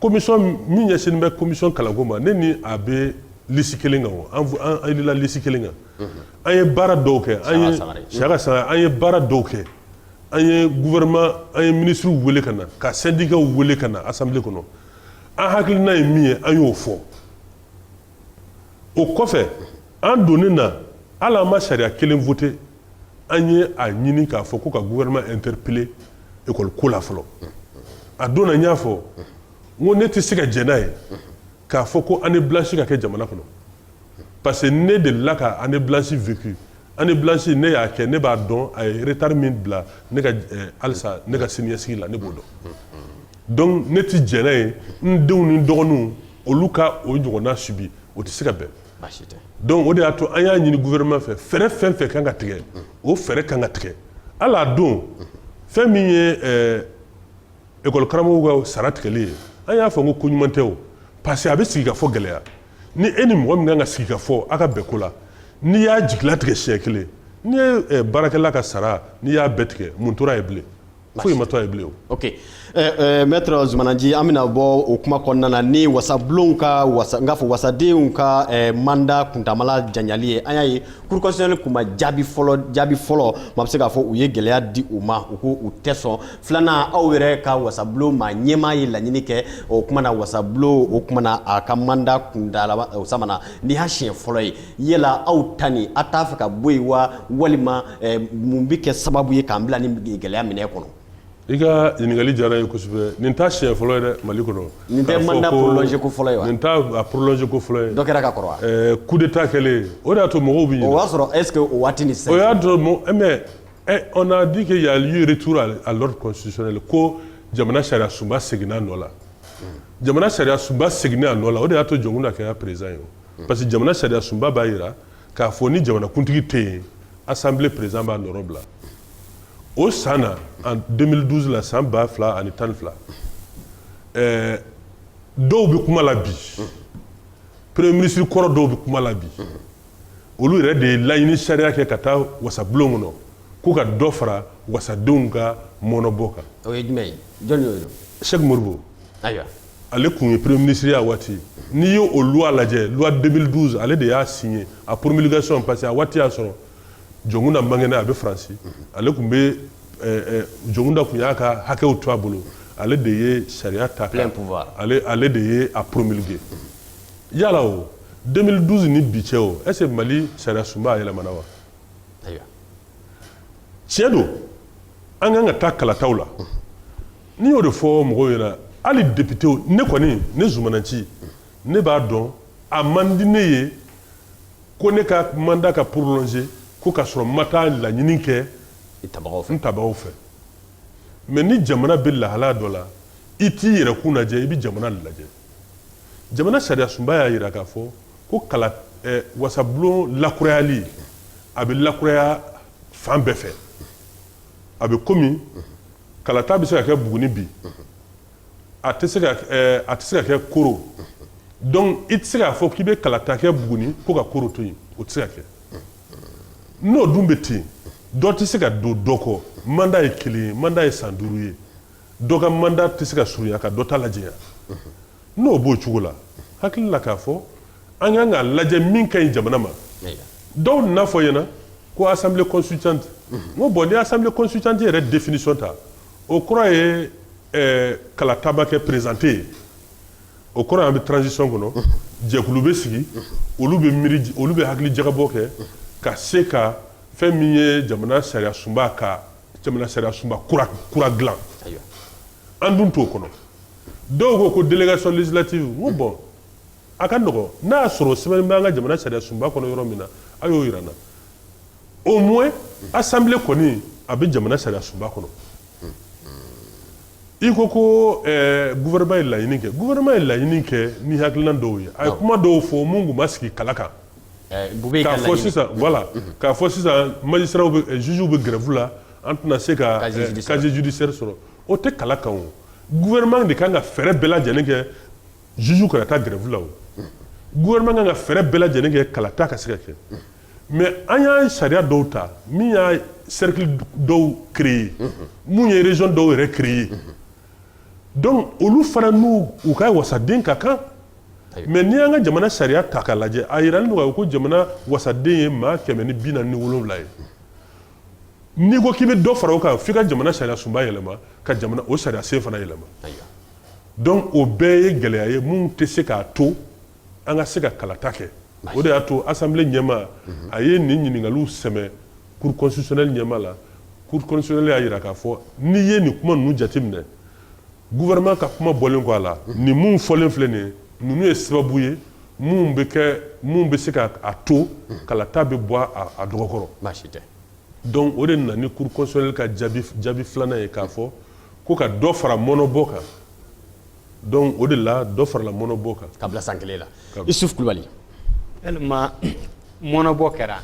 Commission min ɲɛsinnen bɛ commission kalanko ma ne ni a bɛ lisi kelen kan an yɛlɛla lisi kelen kan an ye baara dɔw kɛ Siyaka Sangare an ye baara dɔw kɛ an ye gouvernement an ye ministre weele ka na ka syndicat weele ka na assemblée kɔnɔ an hakilina ye min ye an y'o fɔ o kɔfɛ an donnen na hali an ma sariya kelen voté an ye a ɲini k'a fɔ ko ka gouvernement interpeller école ko la fɔlɔ a don na n y'a fɔ n ko ne tɛ se ka jɛn n'a ye k'a fɔ ko année blanche ka kɛ jamana kɔnɔ parce que ne delila ka année blanche vécu année blanche ne y'a kɛ ne b'a dɔn a ye retard min bila ne ka eh, halisa ne ka siniɲɛsigi la ne b'o dɔn donc ne tɛ jɛn n'a ye n denw ni n dɔgɔninw olu ka o ɲɔgɔnna subi o tɛ se ka bɛn o de y'a to an y'a ɲini gouvernement fɛ fɛɛrɛ fɛn o fɛn kan ka tigɛ o fɛɛrɛ kan ka tigɛ hali a don fɛn min ye ekɔli karamɔgɔw ka sara tigɛli ye an y'a fɔ n ko koɲuman tɛ o parce que a bɛ sigi ka fɔ gɛlɛya ni e ni mɔgɔ min kan ka sigi ka fɔ aw ka bɛn ko la n'i y'a jigilatigɛ siɲɛ kelen n'i ye baarakɛla ka sara n'i y'a bɛɛ tigɛ mun tora a ye bilen foyi ma to a ye bilen o ok eh, eh, maître Zumana Nci an bɛna bɔ o kuma kɔnɔna na ni wasablonw ka wasa n k'a fɔ wasadenw ka eh, manda kuntaala janyali ye an y'a ye cour constitutionnelle kun ma jaabi fɔlɔ jaabi fɔlɔ maa bɛ se k'a fɔ u ye gɛlɛya di u ma u ko u tɛ sɔn filanan aw yɛrɛ ka wasablon ma ɲɛmaa ye laɲini kɛ o kuma na wasablon o kuma na a ka manda kuntaala o samana nin y'a siɲɛ fɔlɔ ye yala aw ta nin a t'a fɛ ka bɔ yen wa walima eh, mun bɛ kɛ sababu ye k'an bila nin gɛlɛya minɛ kɔnɔ i ka ɲininkali diyara n ye kosɛbɛ nin t'a siɲɛ fɔlɔ ye dɛ mali kɔnɔ nin tɛ manda prolongé ko fɔlɔ ye wa nin t'a a prolonge ko fɔlɔ ye dɔ kɛra ka kɔrɔ wa eh, coup d'état kɛlen o de y'a to mɔgɔw bɛ ɲinɛ o y'a sɔrɔ est ce que o waati ni sisan o y'a to mɔ eh, mais eh, on a dit que il y a eu retour à l'ordre constitutionnel ko jamana sariya sunba seginna a nɔ la jamana sariya sunba seginna a nɔ la o de y'a to Jɔnkunda kɛra président ye Hmm. Parce que jamana sariya sunba b'a jira k'a fɔ ni jamanakuntigi tɛ yen assemblée président b'a nɔrɔ bila o san na en 2012 la san ba fila ani tan ni fila ɛɛ eh, dɔw bɛ kuma la bi hmm. premier ministre kɔrɔ dɔw bɛ kuma la bi hmm. olu yɛrɛ de ye laɲini sariya kɛ ka taa wasabulon kɔnɔ ko ka dɔ fara wasadenw ka mɔnɔbɔ kan o ye jumɛn ye jɔn y'o ye Sɛki Modibo ayiwa ale tun ye premier ministre ye a waati n'i ye o loi lajɛ loi 2012 ale de y'a signé a promulgation parce que a waati y'a sɔrɔ jɔnkunda man kɛnɛ a bɛ faransi ale tun bɛ jɔnkunda tun y'a ka hakɛw to a bolo ale de ye sariya ta ale ale de ye a promulgué yala o 2012 ni bi cɛ o est ce que mali sariya sunba a yɛlɛmana wa tiɲɛ don an kan ka taa kalataw la n'i y'o de fɔ mɔgɔw ɲɛna hali depitew ne kɔni ne Zumana Nci ne b'a dɔn a man di ne ye ko ne ka mandat ka prolongé ko ka sɔrɔ n ma taa laɲini kɛ n tabagaw fɛ mais ni jamana bɛ lahalaya dɔ la i t'i yɛrɛ kun lajɛ i bɛ jamana lajɛ jamana sariyasunba y'a jira k'a fɔ ko kala eh, wasabulon lakurayali a bɛ lakuraya fan bɛɛ fɛ a bɛ komi kalata bɛ se ka kɛ buguni bi a tɛ se ka eh, a tɛ se ka kɛ koro donc i tɛ se k'a fɔ k'i bɛ kalata kɛ buguni ko ka koro to yen o tɛ se ka kɛ n'o dun bɛ ten dɔ tɛ se ka don dɔ kɔ mandat ye kelen ye mandat ye san duuru ye dɔ ka mandat tɛ se ka surunya ka dɔ ta lajanya n'o b'o cogo la hakili la k'a fɔ an kan k'a lajɛ min ka ɲi jamana ma dɔw n'a fɔ ɲɛna ko assemblée constituante n ko bon ni assemblée constituante yɛrɛ définition ta o kɔrɔ ye kalata ma kɛ président tɛ yen o kɔrɔ an bɛ transition kɔnɔ jɛkulu bɛ sigi olu bɛ miiri olu bɛ hakili jagabɔ kɛ ka se ka fɛn min ye jamana sariya sunba kan jamana sariya sunba kura kura dilan an dun t'o kɔnɔ dɔw ko ko délégation législative n ko bon a ka nɔgɔn n'a y'a sɔrɔ sɛbɛnni b'an ka jamana sariya sunba kɔnɔ yɔrɔ min na a y'o yira n na au moins assemblée kɔni a bɛ jamana sariya sunba kɔnɔ i ko ko eh, gouvernement ye laɲini kɛ gouvernement ye laɲini kɛ ni hakilina dɔw ye a ye kuma dɔw fɔ mun tun ma sigi kala kan K'a fɔ sisan wala k'a fɔ sisan mali siraw zsiww bɛ gɛrɛfu la an tɛna se ka kazjdi seri sɔrɔ o tɛ kala kan guɛma de kan ka fɛɛrɛ bɛɛ lajɛlen kɛ zsu ka taa gɛrɛfula guɛma kan ka fɛɛrɛ bɛɛ lajɛlen kɛ kalata ka sɛgɛ kɛ mɛ an y'an sariya dɔw ta min y'a seriki dɔw kie ye minnu yerez dɔw yɛrɛ kie ye donc olu fana n'u u ka wasaden ka kan mais n'i y'an ka jamana sariya ta k'a lajɛ a jiralen don ko jamana wasaden ye maa kɛmɛ ni bi naani ni wolonwula ye n'i ko k'i bɛ dɔ fara o kan f'i ka jamana sariya sunba yɛlɛma ka jamana o sariya sen fana yɛlɛma donc o bɛɛ ye gɛlɛya ye min tɛ se k'a to an ka se ka kalata kɛ o de y'a to assemblée ɲɛmaa a ye nin ɲininkaliw sɛmɛ cour constitutionnelle ɲɛmaa la cour constitutionnelle y'a jira k'a fɔ n'i ye nin kuma ninnu jateminɛ gouvernement ka kuma bɔlen kɔ a la nin minnu fɔlen filɛ nin ninnu ye sababu ye minnu bɛ kɛ minnu bɛ se k'a to kalata bɛ bɔ a dɔgɔkɔrɔ baasi tɛ donc o de nana ni cour constitutionnelle ka jaabi filanan ye k'a fɔ ko ka dɔ fara mɔnɔbɔ kan Donc o de la dɔ farala mɔnɔbɔ kan k'a bila san kelen la Isuf Kulubali mɔnɔbɔ kɛra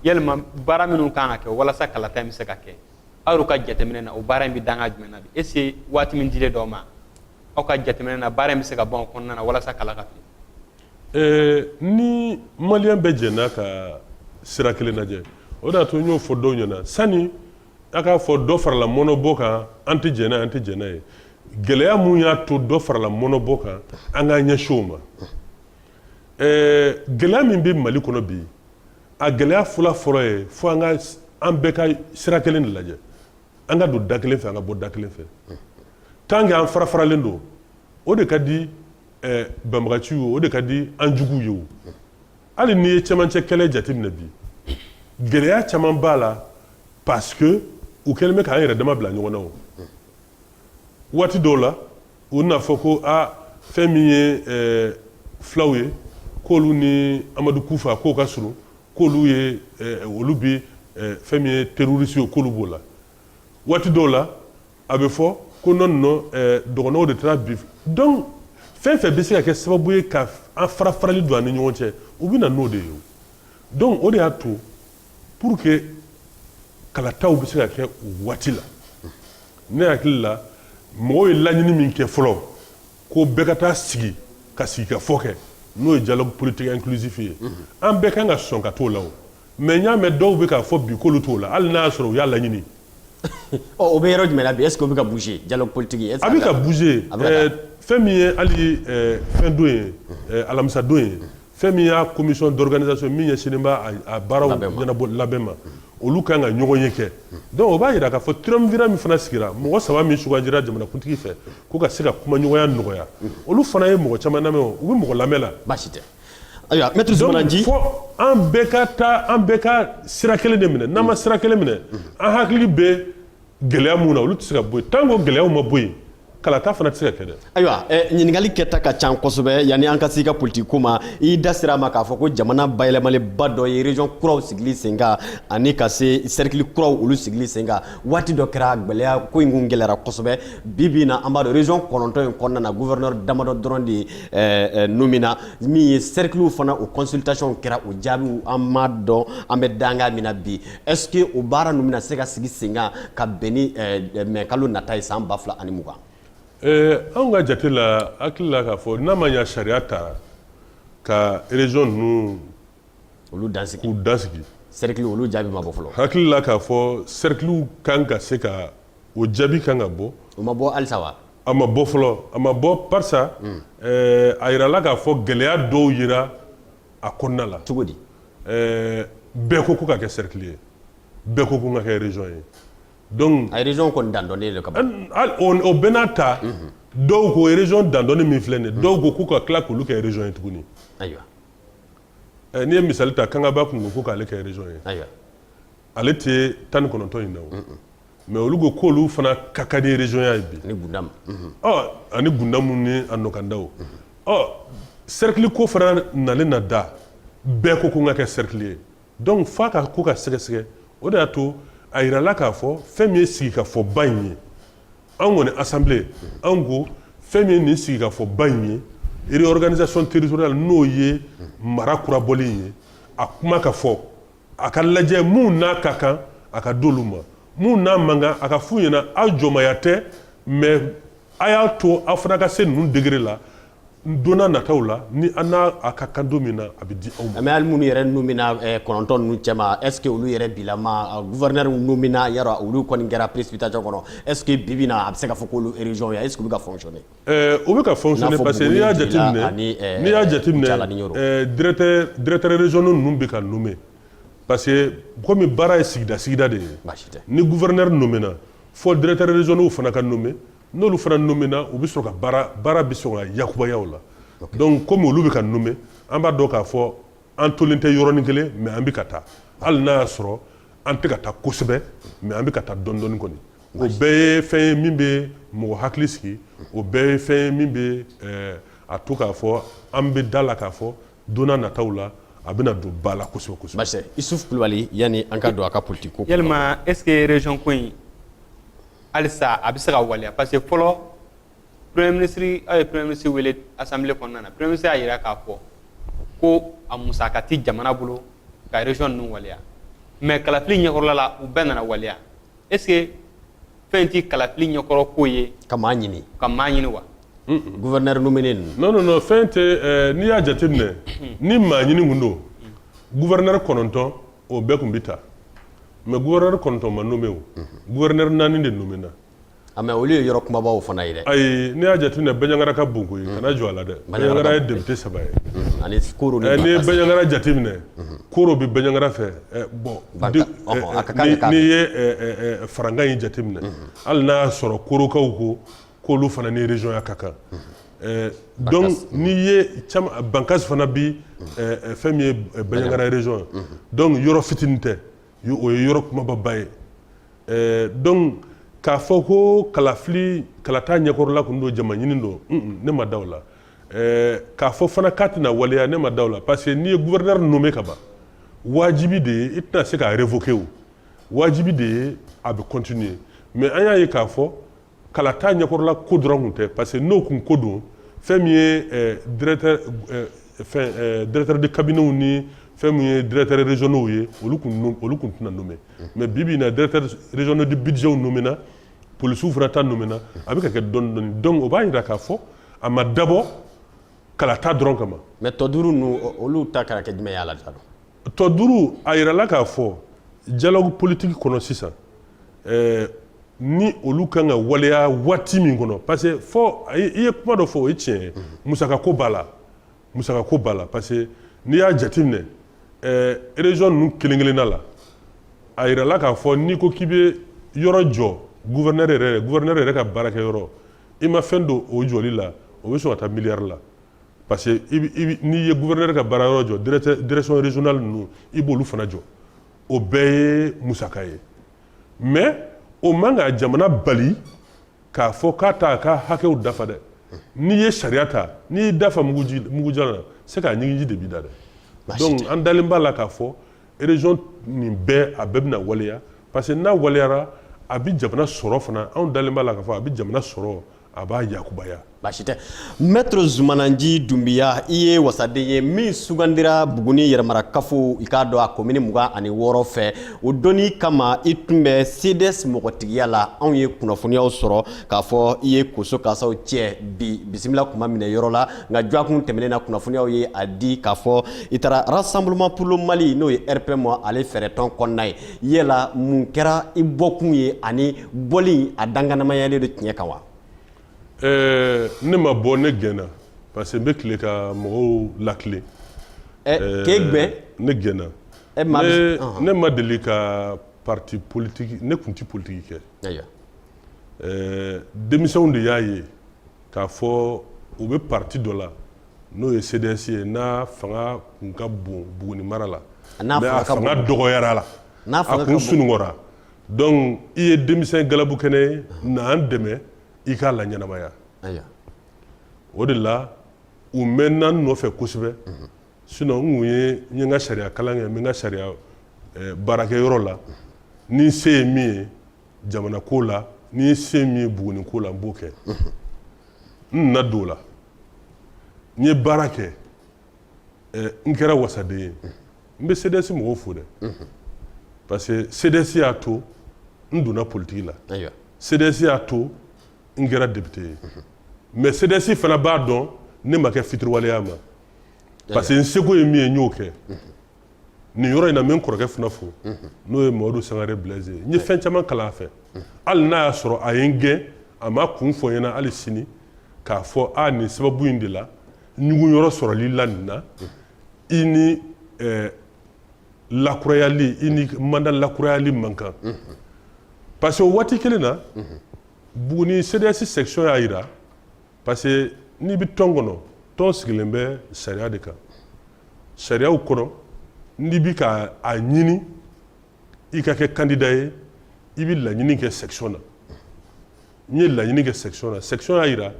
yalima baara minnu kan ka kɛ walasa kalata in bɛ se ka kɛ aw ka jateminɛ na o baara in bɛ dan jumɛn na bi est-ce que waati min dilen don u ma aw ka jateminɛ na baara in bɛ se ka ban o kɔnɔna na walasa kala ka ta ni maliyɛn bɛɛ jɛnna ka sira kelen lajɛ o de y'a to n y'o fɔ dɔw ɲɛna sani a k'a fɔ dɔ farala mɔnɔbɔ kan an tɛ jɛn n'a ye an tɛ jɛn n'a ye gɛlɛya mun y'a to dɔ farala mɔnɔbɔ kan an k'an ɲɛsin o ma gɛlɛya min bɛ mali kɔnɔ bi a gɛlɛya fɔlɔ fɔlɔ ye fo an ka an bɛɛ ka sira kelen de lajɛ an ka don da kelen fɛ an ka bɔ da kelen fɛ tant que an farafaralen don o de ka di banbagaci ye o de ka di an jugu ye o hali n'i ye cɛmancɛ kɛlɛ jateminɛ bi gɛlɛya caman b'a la parce que u kɛlen bɛ k'an yɛrɛ dama bila ɲɔgɔn na o waati dɔw la u n'a fɔ ko a fɛn min ye eh, fulaw ye k'olu ni amadu kufa k'o ka surun k'olu ye eh, olu bi eh, fɛn min ye terroriste ye k'olu b'o la waati dɔw la a bɛ fɔ ko non non dɔgɔnɔw de taara bi donc fɛn fɛn bɛ se ka kɛ sababu ye ka an farafarali don an ni ɲɔgɔn cɛ u bɛ na n'o de ye donc o de y'a to pour que kalataw bɛ se ka kɛ u waati la ne hakili la mɔgɔ ye laɲini min kɛ fɔlɔ ko bɛɛ ka taa sigi ka sigikafɔ kɛ n'o ye dialogue politique inclusif ye an bɛɛ kan ka sɔn ka t'o la o mais n y'a mɛn dɔw bɛ k'a fɔ bi k'olu t'o la hali n'a y'a sɔrɔ u y'a laɲini ɔ o bɛ yɔrɔ jumɛn na bi est-ce que o bɛ ka bouger dialogue politique est-ce que a bɛ ka bouger fɛn min ye hali fɛn don ye alamisadon ye fɛn min y'a commission d'organisation min ɲɛsinnen b'a a baaraw ɲɛnabɔ labɛn ma olu kan ka ɲɔgɔn ye kɛ donc o b'a jira k'a fɔ triumvirat min fana sigira mɔgɔ saba min sugandira jamanakuntigi fɛ ko ka se ka kumaɲɔgɔnya nɔgɔya olu fana ye mɔgɔ caman lamɛn o u bɛ mɔgɔ lamɛn la baasi tɛ ayiwa maître Zumana Ji fo an bɛɛ ka taa an bɛɛ ka sira kelen de minɛ n'an ma sira kelen minɛ an hakili bɛ gɛlɛya mun na olu tɛ se ka bɔ yen tant que o gɛlɛyaw ma bɔ yen kalata fana tɛ se ka kɛ dɛ. ayiwa eh, ɲininkali kɛta ka ca kosɛbɛ yanni an ka se i ka politiki ko ma i da sera a ma k'a fɔ ko jamana bayɛlɛmalenba dɔ ye région kuraw sigili sen kan ani ka se cercle kuraw olu sigili sen kan waati dɔ kɛra gɛlɛya ko in kun gɛlɛyara kosɛbɛ bi bi in na an b'a dɔn région kɔnɔntɔn in kɔnɔna na gouverneur damadɔ dɔrɔn de eh, eh, nomina min ye cerclew fana o consultation kɛra o jaabiw an m'a dɔn an bɛ danga min na bi Est-ce que o baara ninnu bɛna se ka sigi sen kan ka bɛn ni mai kalo nata ye san 2020? Ɛɛ anw ka jate la, n hakili la k'a fɔ n'a ma ɲɛ sariya ta ka région ninnu olu dansigi, k'u dansigi cercle olu jaabi ma bɔ fɔlɔ, n hakili la k'a fɔ cercle ka kan ka se ka o jaabi ka kan ka bɔ, o ma bɔ halisa wa? A ma bɔ fɔlɔ, a ma bɔ barisa a jirala k'a fɔ gɛlɛya dɔw yera a kɔnɔna la cogo di ɛɛ bɛɛ ko k'u ka kɛ cercle ye bɛɛ ko k'u ka kɛ région ye donc a région kɔni dandɔnnen don ka ban o bɛɛ n'a ta dɔw ko région dandɔnnen min filɛ nin ye dɔw ko k'u ka tila k'olu kɛ région ye tuguni ayiwa n'i ye misali ta Kangaba tun ko ko k'ale kɛ région ye ayiwa ale tɛ tan ni kɔnɔntɔn in na mais olu ko k'olu fana ka kan ni régionya ye bi ani Gundamu ni a nɔkandaw ɔ cercle ko fana nalen na da bɛɛ ko k'u ka kɛ cercle ye donc f'a ka ko ka sɛgɛsɛgɛ o de y'a to a jirala k'a fɔ fɛn min ye sigikafɔba in ye anw kɔni assemblée anw ko fɛn min ye nin sigikafɔba in ye réorganisation territoriale n'o ye mara kurabɔlen ye a kuma ka fɔ a ka lajɛ minnu n'a ka kan a ka d'olu ma minnu n'a man kan a ka f'u ɲɛna aw jɔnmaya tɛ mais a y'a to aw fana ka se ninnu degré la donna nataw la ni aw n'a ka kan don min na a bɛ di aw ma mais hali minnu yɛrɛ nomina eh, kɔnɔntɔn ninnu cɛma est ce que olu yɛrɛ bilama gouverneur nomina yɔrɔ olu kɔni kɛra précipitation kɔnɔ est ce que bi bi na a bɛ se ka fɔ k'olu région ya est ce que u bɛ ka fonctionner Euh, u bɛ ka fonctionner parce que n'i y'a jateminɛ euh, n'i y'a jateminɛ euh, directeur directeur régionaux ninnu bɛ ka nommer parce que komi baara ye sigida sigida de ye ni gouverneur nommé na fo directeur régionaux fana ka nommer n'olu fana nommé na u bɛ sɔrɔ ka baara baara bɛ sɔrɔ ka yakubaya o la donc komi olu bɛ ka nommer an b'a dɔn k'a fɔ an tolen tɛ yɔrɔnin kelen mais an bɛ ka taa hali n'a y'a sɔrɔ an tɛ ka taa kosɛbɛ mais an bɛ ka taa dɔɔni dɔɔni kɔni o bɛɛ ye fɛn ye min bɛ mɔgɔ hakili sigi o bɛɛ ye fɛn ye min bɛ eh, a to k'a fɔ an bɛ d'a la k'a fɔ donna nataw la a bɛna don ba la kosɛbɛ kosɛbɛ. Basi Isuf Kulubali yanni an ka don a ka politique ko. Yalima est ce que région ko in halisa a bɛ se ka waleya parce que fɔlɔ premier ministre aw ye premier ministre wele assemblée kɔnɔna na premier ministre y'a jira k'a fɔ ko a musaka ti jamana bolo ka région ninnu waleya mais kalafili ɲɛkɔrɔla la u bɛɛ nana waleya est ce que fɛn ti kalafili ɲɛkɔrɔ ko ye ka maa ɲini ka maa ɲini wa gouverneur nommé ninnu non non non fɛn tɛ eh, n'i y'a jateminɛ ni maa ɲini kun don gouverneur kɔnɔntɔn o bɛɛ kun bɛ ta mais gouverneur kɔnɔntɔn ma nommé o gouverneur naani de nommé na A mais olu ye yɔrɔ kumabaw fana ye dɛ ayi n'i y'a jate minɛ baɲangara ka bon koyi kana jɔ a la dɛ baɲangara ye député saba ye ani koro ni n'i ye baɲangara jate minɛ koro bɛ baɲangara fɛ bon n'i ye farankan in jate minɛ hali n'a y'a sɔrɔ korokaw ko k'olu fana ni régionya ka kan donc n'i ye caman Bankassi fana bi fɛn min ye baɲangara région ye donc yɔrɔ fitini tɛ o ye yɔrɔ kumababa ye eh, donc k'a fɔ ko kalafili kalata ɲɛkɔrɔla kun don jama ɲini don ne ma da o la eh, k'a fɔ fana k'a tɛna waleya ne ma da o la parce que n'i ye gouverneur nommé ka ban wajibi de ye i tɛna se k'a révoquer o wajibi de ye a bɛ continuer mais an y'a ye k'a fɔ kalata ɲɛkɔrɔla ko dɔrɔn kun tɛ parce que n'o kun ko don fɛn min ye eh, directeur eh, fɛn eh, directeur de cabinetw ni fɛn min ye directeur régionaux ye olu kun olu kun tɛna nommé mais bi bi in na directeur régionaux de budgetw nommé na polisiw fana ta nommé na a bɛ ka kɛ dɔɔni dɔɔni donc o b'a yira k'a fɔ a ma dabɔ kalata dɔrɔn kama. mais tɔ duuru ninnu olu ta kɛra kɛ jumɛn y'a la tɔ duuru a yirala k'a fɔ dialogue politique kɔnɔ sisan. ɛɛ ni olu kan ka waleya waati min kɔnɔ parce que fɔ i ye kuma dɔ fɔ o ye tiɲɛ ye musakako b'a la musakako b'a la parce que n'i y'a jateminɛ ɛɛ région ninnu kelen kelenna la a yirala k'a fɔ n'i ko k'i bɛ yɔrɔ jɔ gouverneur yɛrɛ gouverneur yɛrɛ ka baarakɛ yɔrɔ i ma fɛn don o jɔli la o bɛ sɔn ka taa miliyari la parce que n'i ye gouverneur ka baara yɔrɔ jɔ direction régionale ninnu i b'olu fana jɔ o bɛɛ ye musaka ye mais o man ka jamana bali k'a fɔ k'a t'a ka hakɛw dafa dɛ n'i ye sariya ta n'i y'i da fa mugujan na c'est que a ɲigiji de b'i da dɛ donc an dalen b'a la k'a fɔ région nin bɛɛ a bɛɛ bɛna waleya parce que n'a waleyara a bɛ jamana sɔrɔ fana anw dalen b'a la k'a fɔ a bɛ jamana sɔrɔ a b'a yakubaya baasi tɛ maître zumana nci dunbiya i ye wasaden ye min sugandira buguni yɛrɛmarakafo i k'a dɔn a komini mugan ani wɔɔrɔ fɛ o donni kama i tun bɛ cds mɔgɔtigiya la anw ye kunnafoniyaw sɔrɔ k'a fɔ i ye koso kasaw cɛ b'i bisimila kuma minɛ yɔrɔ la nka jɔakun tɛmɛnen na kunnafoniyaw ye a di k'a fɔ i taara rassemblement pour le mali n'o ye rpm ale fɛɛrɛtɔn kɔnɔna ye yala mun kɛra i bɔkun ye ani bɔli a dankɛnɛmayalen don tiɲɛ kan wa ɛɛ ne ma bɔ ne gɛnna parce que n bɛ tilen ka mɔgɔw latilen k'e gɛn ne gɛnna ne ma deli ka parti politique ne tun tɛ politiki kɛ ayiwa ɛɛ denmisɛnw de y'a ye k'a fɔ u bɛ parti dɔ la n'o ye CDS ye n'a fanga tun ka bon Buguni mara la mais a fanga dɔgɔyara la a kun sunɔgɔra donc i ye denmisɛn galabu kɛnɛ ye na an dɛmɛ i k'a laɲɛnamaya o de la u mɛnna n nɔfɛ kosɛbɛ sinon n tun ye n ka sariya kalan kɛ n bɛ n ka sariya eh, baarakɛ yɔrɔ la ni n se ye min ye jamana ko la ni n se ye min ye buguni ko la n b'o kɛ n nana don o la n ye baara kɛ n kɛra wasaden ye n bɛ CDS mɔgɔw fo dɛ parce que CDS y'a to n donna politiki la CDS y'a to n kɛra depite ye mais CDS fana b'a dɔn ne ma kɛ fitiriwale ye a ma parce que n seko ye min ye n y'o kɛ nin yɔrɔ in na n bɛ n kɔrɔkɛ fana fo n'o ye mamadu sangare blaise ye n ye fɛn caman kalan a fɛ hali n'a y'a sɔrɔ a ye n gɛn a m'a kun fɔ n ɲɛna hali sini k'a fɔ a nin sababu in de la ɲugun yɔrɔ sɔrɔli la nin na i ni eh, lakurayali i ni manda lakurayali man kan parce que o waati kelen na buguni cds section y'a jira parce que n'i bɛ tɔn kɔnɔ tɔn sigilen bɛ sariya de kan sariyaw kɔnɔ n'i bɛ ka a ɲini i ka kɛ kandida ye i bɛ laɲini kɛ section na n ye laɲini kɛ section na section y'a jira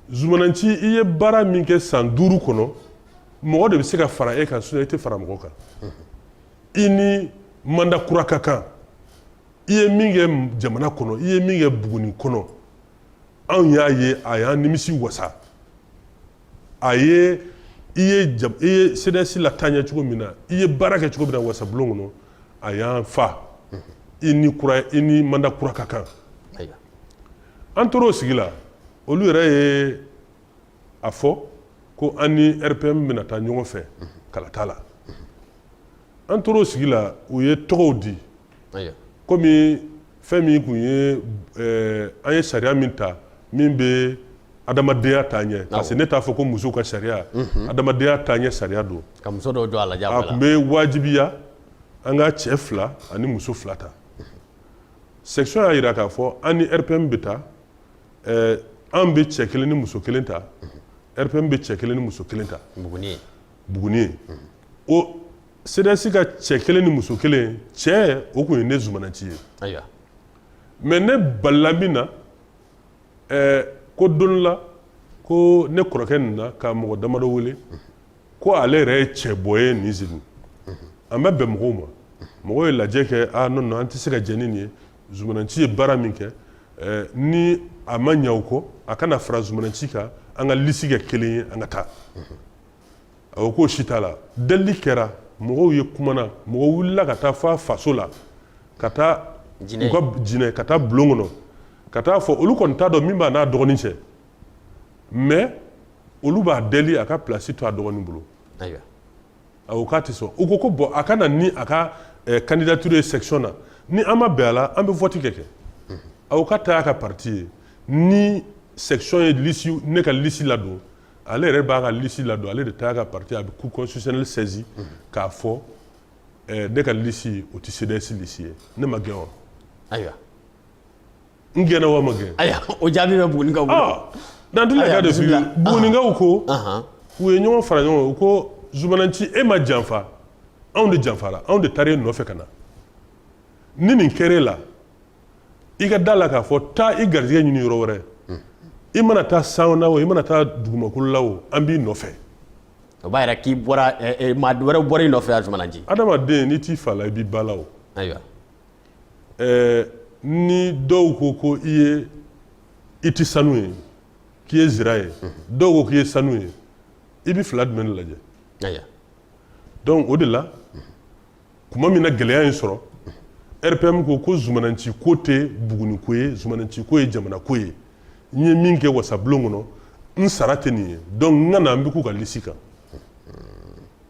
zumana nci i ye baara min kɛ san duuru kɔnɔ mɔgɔ de bɛ se ka fara e kan sinɔn i tɛ fara mɔgɔ kan i ni manda kura ka kan i ye min kɛ jamana kɔnɔ i ye min kɛ buguni kɔnɔ anw y'a ye a y'an nimisi wasa a ye i ye i ye CDS lataa ɲɛ cogo min na i ye baara kɛ cogo min na wasabulon kɔnɔ a y'an fa i ni kura i ni manda kura ka kan an tor'o sigi la olu yɛrɛ ye a fɔ ko an ni RPM bɛna taa ɲɔgɔn fɛ kalata la an tor'o sigi la u ye tɔgɔw di kɔmi fɛn min tun ye eh, an ye sariya min ta min bɛ adamadenya taa ɲɛ parce que ne t'a fɔ ko musow ka sariya mhm. adamadenya taaɲɛ sariya don a tun bɛ wajibiya an ka cɛ fila ani muso fila ta section y'a jira k'a fɔ an ni rpm bɛ taa eh, an bɛ cɛ kelen ni muso kelen ta mhm. rpm bɛ cɛ kelen ni muso kelen ta buguni ye buguni ye mhm. o cds ka cɛ kelen ni muso kelen cɛ o tun ye ne zumananci ye ayiwa mais ne balila min na ɛɛ ko don la ko ne kɔrɔkɛ nin na ka mɔgɔ damadɔ wele ko ale yɛrɛ ye cɛbɔ ye nin sigi an bɛ bɛn mɔgɔw ma mɔgɔw ye lajɛ kɛ a non non an tɛ se ka jɛn ni nin ye zumananci ye baara min kɛ ni a ma ɲinɛ o kɔ a ka na fara zumananci kan an ka lisi kɛ kelen ye an ka taa a ko k'o si t'a la delili kɛra mɔgɔw ye kumana mɔgɔw wulila ka taa fɔ faso la ka taa u ka jinɛ ka taa bulon kɔnɔ ka taa fɔ olu kɔni t'a dɔn min b'a n'a dɔgɔnin cɛ mais olu b'a deli a ka place to a dɔgɔnin bolo a ko k'a tɛ sɔn u ko ko bon a ka na ni a ka eh, candidature ye section na ni an ma bɛn a la an bɛ vote kɛ kɛ a ko k'a ta y'a ka parti ye ni section ye lisi ne ka lisi ladon ale yɛrɛ b'a ka lisi ladon ale de ta y'a ka parti a bɛ cour constitutionnelle saisi k'a fɔ eh, ne ka lisi o tɛ cds lisi ye ne ma gɛn wa ayiwa n gɛnna wa ma gɛn ayiwa o jaabi bɛ bugunikaw bolo ah, dans tous les cas de figure bugunikaw ko u ye ɲɔgɔn fara ɲɔgɔn kan u ko zumananci e ma janfa anw de janfara anw de taara e nɔfɛ ka na ni nin kɛra e la i ka da la k'a fɔ taa i garijɛgɛ ɲini yɔrɔ wɛrɛ i mana taa san na o i mana taa dugumakolo la o an b'i nɔfɛ o b'a yira k'i bɔra eh, eh, maa wɛrɛ bɔra i nɔfɛ a zumananci adamaden n'i t'i fa la i b'i ba la o ayiwa eh, ni dɔw ko ko i ye i tɛ sanu ye k'i ye zira ye dɔw ko k'i ye sanu ye i bɛ fila jumɛn de lajɛ ayiwa donc o de la tuma min na gɛlɛya ye n sɔrɔ rpm ko ko zumananci ko tɛ buguni ko ye zumananci ko ye jamana ko ye n ye min kɛ wasabulon kɔnɔ n sara tɛ nin ye donc n ka na n bɛ k'u ka lisi kan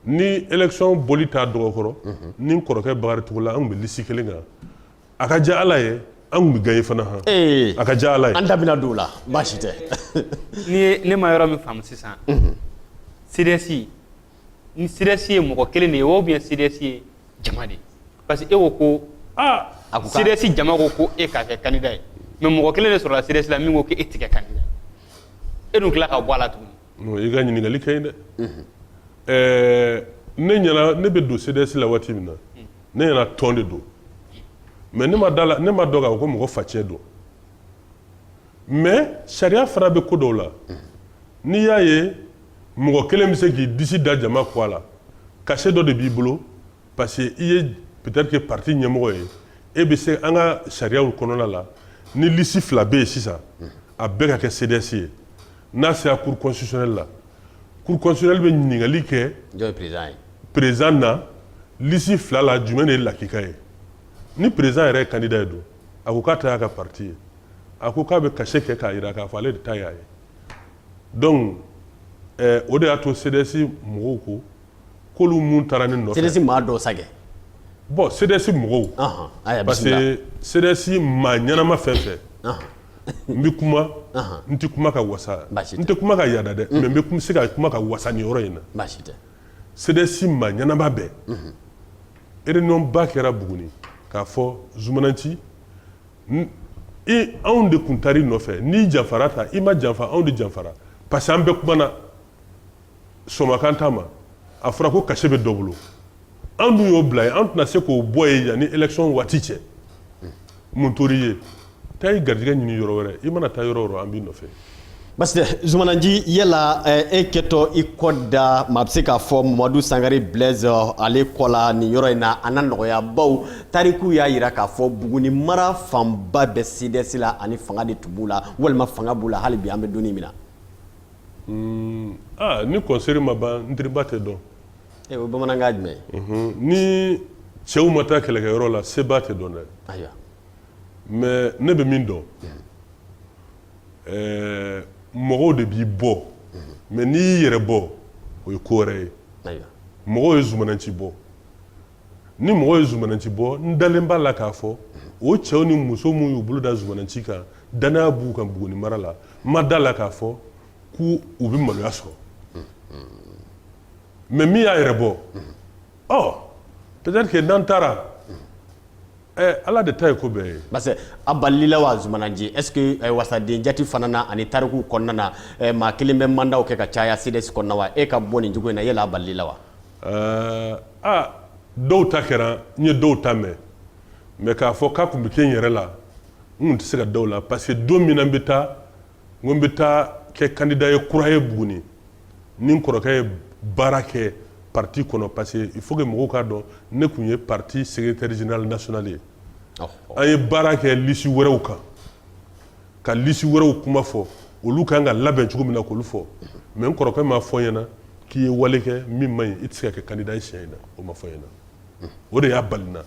ni election bɔli t'a dɔgɔ kɔrɔ ni n kɔrɔkɛ bakari togola an tun bɛ lisi kelen kan a ka diya ala ye an tun bɛ gagner fana han ee a ka diya ala ye an da bɛna don o la baasi tɛ n'i ye ne ma yɔrɔ min faamu sisan cds ni cds ye mɔgɔ kelen de ye ou bien cds ye jama de ye parce que e ko ko aa cds jama ko ko e ka kɛ candidat ye mais mɔgɔ kelen de sɔrɔla cds la min ko e tɛ kɛ candidat e dun tila ka bɔ a la tuguni i ka ɲininkali ka ɲi dɛ ɛɛ ne ɲɛna ne bɛ don cds la waati min na ne ɲɛna tɔn de don mais ne ma da la ne m'a dɔn k'a fɔ ko mɔgɔ facɛn don mais sariya fana bɛ ko dɔw la n'i y'a ye mɔgɔ kelen bɛ se k'i disi da jama kɔ a la cachet dɔ de b'i bolo parce que i ye peut-être que parti ɲɛmɔgɔ ye e bɛ se an ka sariyaw kɔnɔna la ni lisi fila bɛ yen sisan a bɛɛ ka kɛ CDS ye n'a sera cour constitutionnelle la cour constitutionnelle bɛ ɲininkali kɛ président na lisi fila la jumɛn de ye lakika ye ni président yɛrɛ ye candidat ye dun a ko k'a ta y'a ka parti ye a ko k'a bɛ cachet kɛ k'a jira k'a fɔ ale de ta y'a ye donc eh, o de y'a to CDS mɔgɔw ko k'olu mun taara ne nɔfɛ CDS maa dɔ sa kɛ bon CDS mɔgɔw Ahan, parce que CDS maa ɲɛnama fɛn fɛn Ahan. n bɛ kuma Ahan. n tɛ kuma ka waso n tɛ kuma ka yada dɛ mais n bɛ kuma- se ka kuma ka waso nin yɔrɔ in na baasi tɛ CDS maa ɲɛnama bɛɛ réunion ba kɛra buguni k'a fɔ zumananci anw de tun taara i nɔfɛ n'i janfara ta i ma janfa anw de janfara parce que an bɛɛ kumana somakan ta ma a fɔra ko cachet bɛ dɔ bolo anw dun y'o bila yen an tɛna se k'o bɔ yen yanni élection waati cɛ mun tor'i ye taa i garijɛgɛ ɲini yɔrɔ wɛrɛ i mana taa yɔrɔ o yɔrɔ an b'i nɔfɛ parce que zumananci yala eh, e kɛtɔ i kɔ da maa bɛ se k'a fɔ mamadu sangare blaise eh, ale kɔ la nin yɔrɔ in na a na nɔgɔya baw tarikuw y'a yira k'a fɔ buguni mara fanba bɛ cds la ani fanga de tun b'u la walima fanga b'u la hali bi an bɛ donni min na hmm, ah, ni kɔnseri ma ban n tiriba tɛ dɔn e o ye bamanankan jumɛn ye mhm. ni cɛw ma taa kɛlɛkɛyɔrɔ la seba tɛ dɔn dɛ ayiwa mais ne bɛ min dɔn eh, mɔgɔw de b'i bɔ mhm. mais n'i y'i yɛrɛ bɔ o ye ko wɛrɛ ye mɔgɔw ye zumananci bɔ ni mɔgɔw ye zumananci bɔ n dalen b'a la k'a fɔ o cɛw ni muso minnu y'u bolo da zumananci kan danaya b'u kan buguni mara la n ma da la k'a fɔ ko u bɛ maloya sɔrɔ mais min y'a yɛrɛ bɔ ɔ peut-être que n'an taara ɛ ala de ta ye ko bɛɛ ye parce que a balila wa zumananci est ce que eh, wasaden jati fana na ani tarikuw kɔnɔna na eh, maa kelen bɛ mandaw kɛ ka caya cds kɔnɔna wa e ka bɔ nin cogo in na yala a balila wa ɛɛ a dɔw ta kɛra n ye dɔw ta mɛn mais k'a fɔ k'a tun bɛ kɛ n yɛrɛ la n tun tɛ se ka da o la parce que don min na n bɛ taa n ko n bɛ taa kɛ candidat ye kura ye buguni ni n kɔrɔkɛ ye baara kɛ parti kɔnɔ parce que il faut que mɔgɔw k'a dɔn ne tun ye parti secrétaire général national ye an ye baara kɛ lisi wɛrɛw kan ka lisi wɛrɛw kuma fɔ olu kan ka labɛn cogo min na k'olu fɔ mais n kɔrɔkɛ m'a fɔ n ɲɛna k'i ye wale kɛ min man ɲi i tɛ se ka kɛ candidat ye siɲɛ in na o ma fɔ n ɲɛna o de y'a bali n na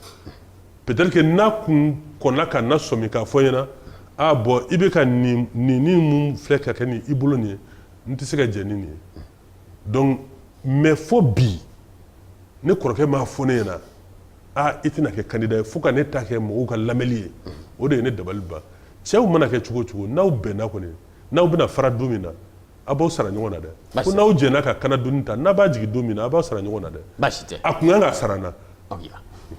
peut-être que n'a kun kɔnna ka na sɔmi k'a fɔ n ɲɛna ah bon i bɛ ka nin nin ni mun filɛ ka kɛ ni i bolo nin ye n tɛ se ka jɛ ni nin ye donc mais fo bi ne kɔrɔkɛ m'a fɔ ne ɲɛna ah i tɛna kɛ candidat ye fo ka ne ta kɛ mɔgɔw ka lamɛnli ye o de ye ne dabali ban cɛw mana kɛ cogo o cogo n'aw bɛnna kɔni n'aw bɛna fara don min na a b'aw sara ɲɔgɔn na dɛ ko n'aw jɛnna ka kana doni ta n'a b'a jigin don min na a b'aw sara ɲɔgɔn na dɛ baasi tɛ a kun kan ka sara n na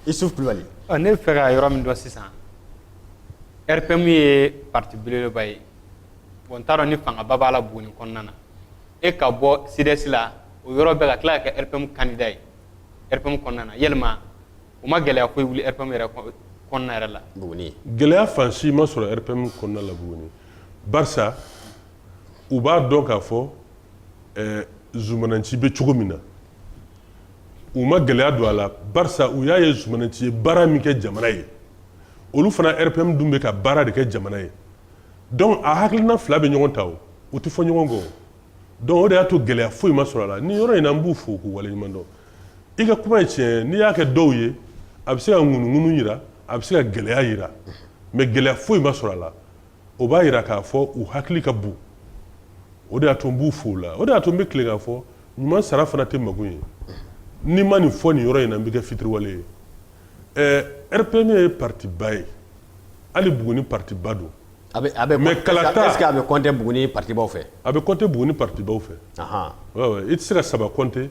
Isuf Kulubali ne bɛ fɛ ka yɔrɔ min dɔn sisan RPM ye parti belebeleba ye bon n t'a dɔn ni fangaba b'a la Buguni kɔnɔna na e ka bɔ CDS la o yɔrɔ bɛɛ ka tila ka kɛ RPM candidat ye RPM kɔnɔna na yalima o ma gɛlɛya ko wuli rpm yɛrɛ kɔnɔna yɛrɛ la buguni gɛlɛya fan si ma sɔrɔ rpm kɔnɔna la buguni barisa u b'a dɔn k'a fɔ eh, zumananci bɛ cogo min na u ma gɛlɛya don a la barisa u y'a ye zumananci ye baara min kɛ jamana ye olu fana rpm dun bɛ ka baara de kɛ jamana ye donc a hakilina fila bɛ ɲɔgɔn ta o u tɛ fɔ ɲɔgɔn kɔ donc o de y'a to gɛlɛya foyi ma sɔrɔ a la nin yɔrɔ in na n b'u fo k'u waleɲuman dɔn i ka kuma ye tiɲɛ n'i y'a kɛ dɔw ye a bɛ se ka ŋunuŋunu jira a bɛ se ka gɛlɛya jira mais gɛlɛya foyi ma sɔrɔ a la o b'a jira k'a fɔ u hakili ka bon o de y'a to n b'u fo o la o de y'a to n bɛ tila k'a fɔ ɲuman sara fana tɛ mago ye n'i ma nin fɔ nin yɔrɔ in na n bɛ kɛ fitiriwale ye ɛɛ RPM ye parti ba ye hali Buguni parti ba don A bɛ a bɛ mais kalata est ce que a bɛ compter Buguni parti baw fɛ? A bɛ compter Buguni parti baw fɛ, anhan, oui oui i tɛ se ka saba compter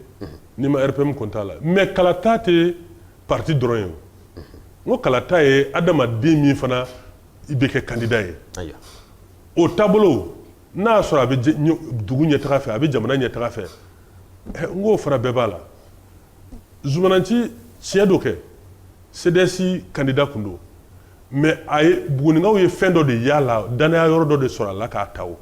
n'i ma RPM compter a la mais kalata tɛ parti dɔrɔn ye, n ko kalata ye adamaden min fana i bɛ kɛ candidat ye, ayiwa, o taabolo n'a y'a sɔrɔ a bɛ dugu ɲɛtaga fɛ a bɛ jamana ɲɛtaga fɛ n k'o fana bɛɛ b'a la Zumananci tiɲɛ don kɛ CDS candidat kun don mais a ye bugunikaw ye fɛn dɔ de y'a la dannaya yɔrɔ dɔ de sɔrɔ a la k'a ta o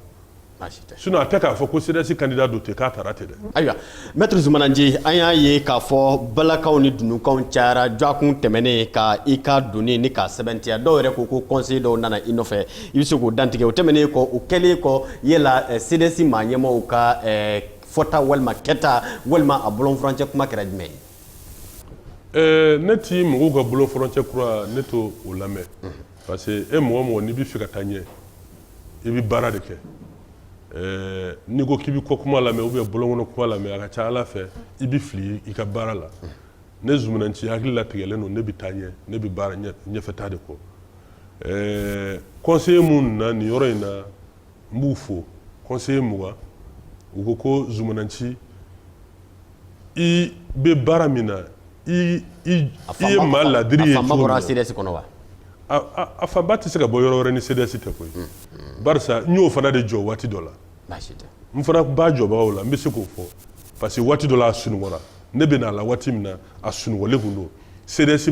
sinon a tɛ k'a fɔ ko CDS candidat don ten k'a taara ten dɛ ayiwa maître zumananci an y'a ye k'a fɔ balakanw ni dununkanw cayara jɔgɔkun tɛmɛnen kan i ka donni ni k'a sɛbɛntiya dɔw yɛrɛ ko ko conseiller dɔw nana i nɔfɛ i bɛ se k'o dantigɛ o tɛmɛnen kɔ o kɛlen kɔ yala eh, CDS maa ɲɛmaaw ka eh, fɔta walima kɛta walima a bɔlɔnfurancɛ kuma kɛra jumɛn ye Ɛɛ ne ti mɔgɔw ka bɔlɔnfurancɛ kuma ne t'o lamɛn parce que e mɔgɔ mɔgɔ n'i bɛ fɛ ka taa ɲɛ i bɛ baara de kɛ ɛɛ n'i ko k'i bɛ kɔ kuma lamɛn ou bien bɔlɔnkɔnɔ kuma lamɛn a ka ca ala fɛ i bɛ fili i ka baara la ne Zumananci hakili latigɛlen don ne bɛ taa ɲɛ ne bɛ baara ɲɛfɛta de kɔ ɛɛ conseiller minnu na nin yɔrɔ in na n b'u fo conseiller mugan u ko ko Zumananci i bɛ baara min na i i ye maa ladiri ye a fanba bɔra CDS kɔnɔ wa a fanba tɛ se ka bɔ yɔrɔ wɛrɛ ni CDS tɛ koyi barisa n y'o fana de jɔ waati dɔ la n fana b'a jɔbagaw la n bɛ se k'o fɔ parce que waati dɔ la a sunɔgɔra ne bɛ n'a la waati min na a sunɔgɔlen tun don CDS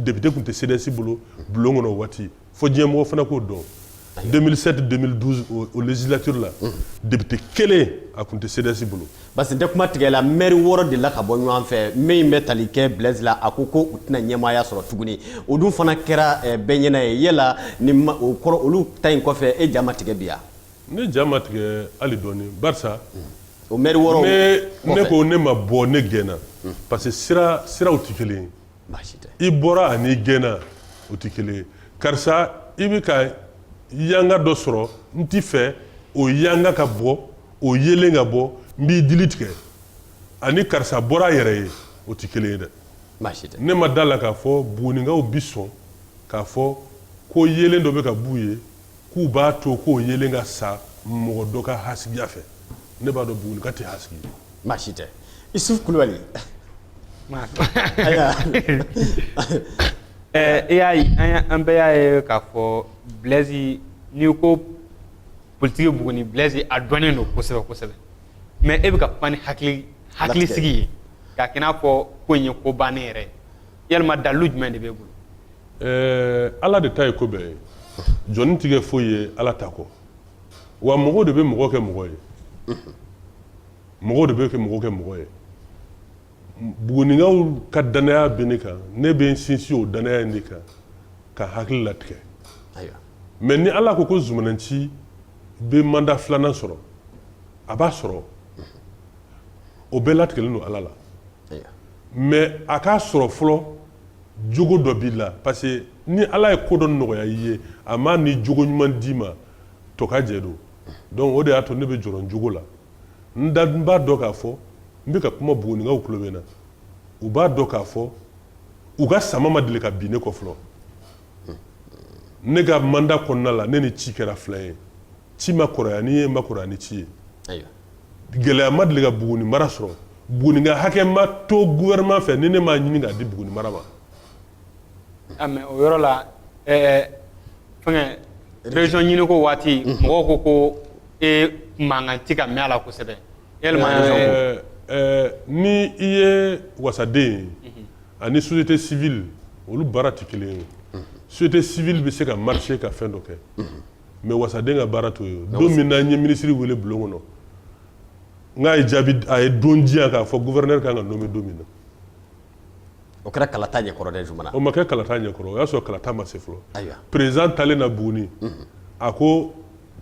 député tun tɛ CDS bolo bulon kɔnɔ waati fo diɲɛmɔgɔ fana k'o dɔn 2007 2012 o législature la député kelen a tun tɛ CDS bolo parce que n tɛ kuma tigɛ la maire wɔɔrɔ de la ka bɔ ɲɔgɔn fɛ min bɛ tali kɛ Blaise la a ko ko u tɛna ɲɛmaaya sɔrɔ tuguni o dun fana kɛra eh, bɛɛ ɲɛna ye yala ni o kɔrɔ olu ta in kɔfɛ e ja ma tigɛ bi ya ne ja ma tigɛ hali dɔɔni barisa o maire wɔɔrɔ ne ne ko ne ma bɔ ne gɛnna parce que sira siraw tɛ kelen ye i bɔra ani i gɛnna o tɛ kelen ye karisa i bɛ ka yanga dɔ sɔrɔ n t'i fɛ o yanga ka bɔ o yeelen ka bɔ n b'i dili tigɛ ani karisa bɔra a yɛrɛ ye o tɛ kelen ye dɛ ne ma da a la k'a fɔ bugunikaw bi sɔn k'a fɔ ko yeelen dɔ bɛ ka b'u ye k'u b'a to k'o yeelen ka sa mɔgɔ dɔ ka hasidiya fɛ ne b'a dɔn Bugunika tɛ hasidi ye. Baasi tɛ. Isufu Kulubali. Ɛɛ i y'a ye an y'a an bɛɛ y'a ye k'a fɔ Blaise n'i ko politiki Buguni Blaise a dɔnnen don kosɛbɛ kosɛbɛ mais e bɛ ka kuma ni hakili hakilisigi ye k'a kɛ i n'a fɔ ko in ye ko bannen yɛrɛ ye yalima dalilu jumɛn de b'e bolo ala de ta ye ko bɛɛ ye jɔnnin tɛ kɛ foyi ye ala ta kɔ wa mɔgɔw de bɛ mɔgɔ kɛ mɔgɔ ye mɔgɔw de bɛ kɛ mɔgɔ kɛ mɔgɔ ye bugunikaw ka dannaya bɛ ne kan ne bɛ n sinsin o dannaya in de kan ka hakili latigɛ mais ni ala ko ko Zumana Nci bɛ mandat filanan sɔrɔ a b'a sɔrɔ o bɛɛ latigɛlen don ala la mais a k'a sɔrɔ fɔlɔ jogo dɔ b'i la parce que ni ala ye ko dɔ nɔgɔya i ye a m'a ni jogo ɲuman d'i ma tɔkajɛ don donc o de y'a to ne bɛ jɔrɔ n jogo la n da n b'a dɔn k'a fɔ n bɛ ka kuma bugunikaw tulo bɛ n na u b'a dɔn k'a fɔ u ka sama ma deli ka bin ne kɔ fɔlɔ ne ka mandat kɔnɔna la ne ni ci kɛra filan ye ci ma kɔrɔya ni n ye n ma kɔrɔya ni ci ye gɛlɛya ma deli ka buguni mara sɔrɔ bugunika hakɛ ma to gouvernement fɛ ni ne m'a ɲini k'a di buguni mara ma ah, o yɔrɔ la fɛn région ɲini ko waati mhm. mɔgɔw ko ko e mankan tɛ ka mɛn a la kosɛbɛ ni i ye wasaden ye mhm. ani société civile olu baara tɛ kelen ye mhm. société civile bɛ se ka marcher ka fɛn dɔ kɛ mais wasaden ka baara t'o ye don min na n ye minisiri weele bulon kɔnɔ nka a ye jaabi a ye don di yan k'a fɔ gouverneur ka kan ka nommer don min na o kɛra kalata ɲɛkɔrɔ o ma kɛ kalata ɲɛkɔrɔ o y'a sɔrɔ kalata ma se fɔlɔ président taalen na buguni a ko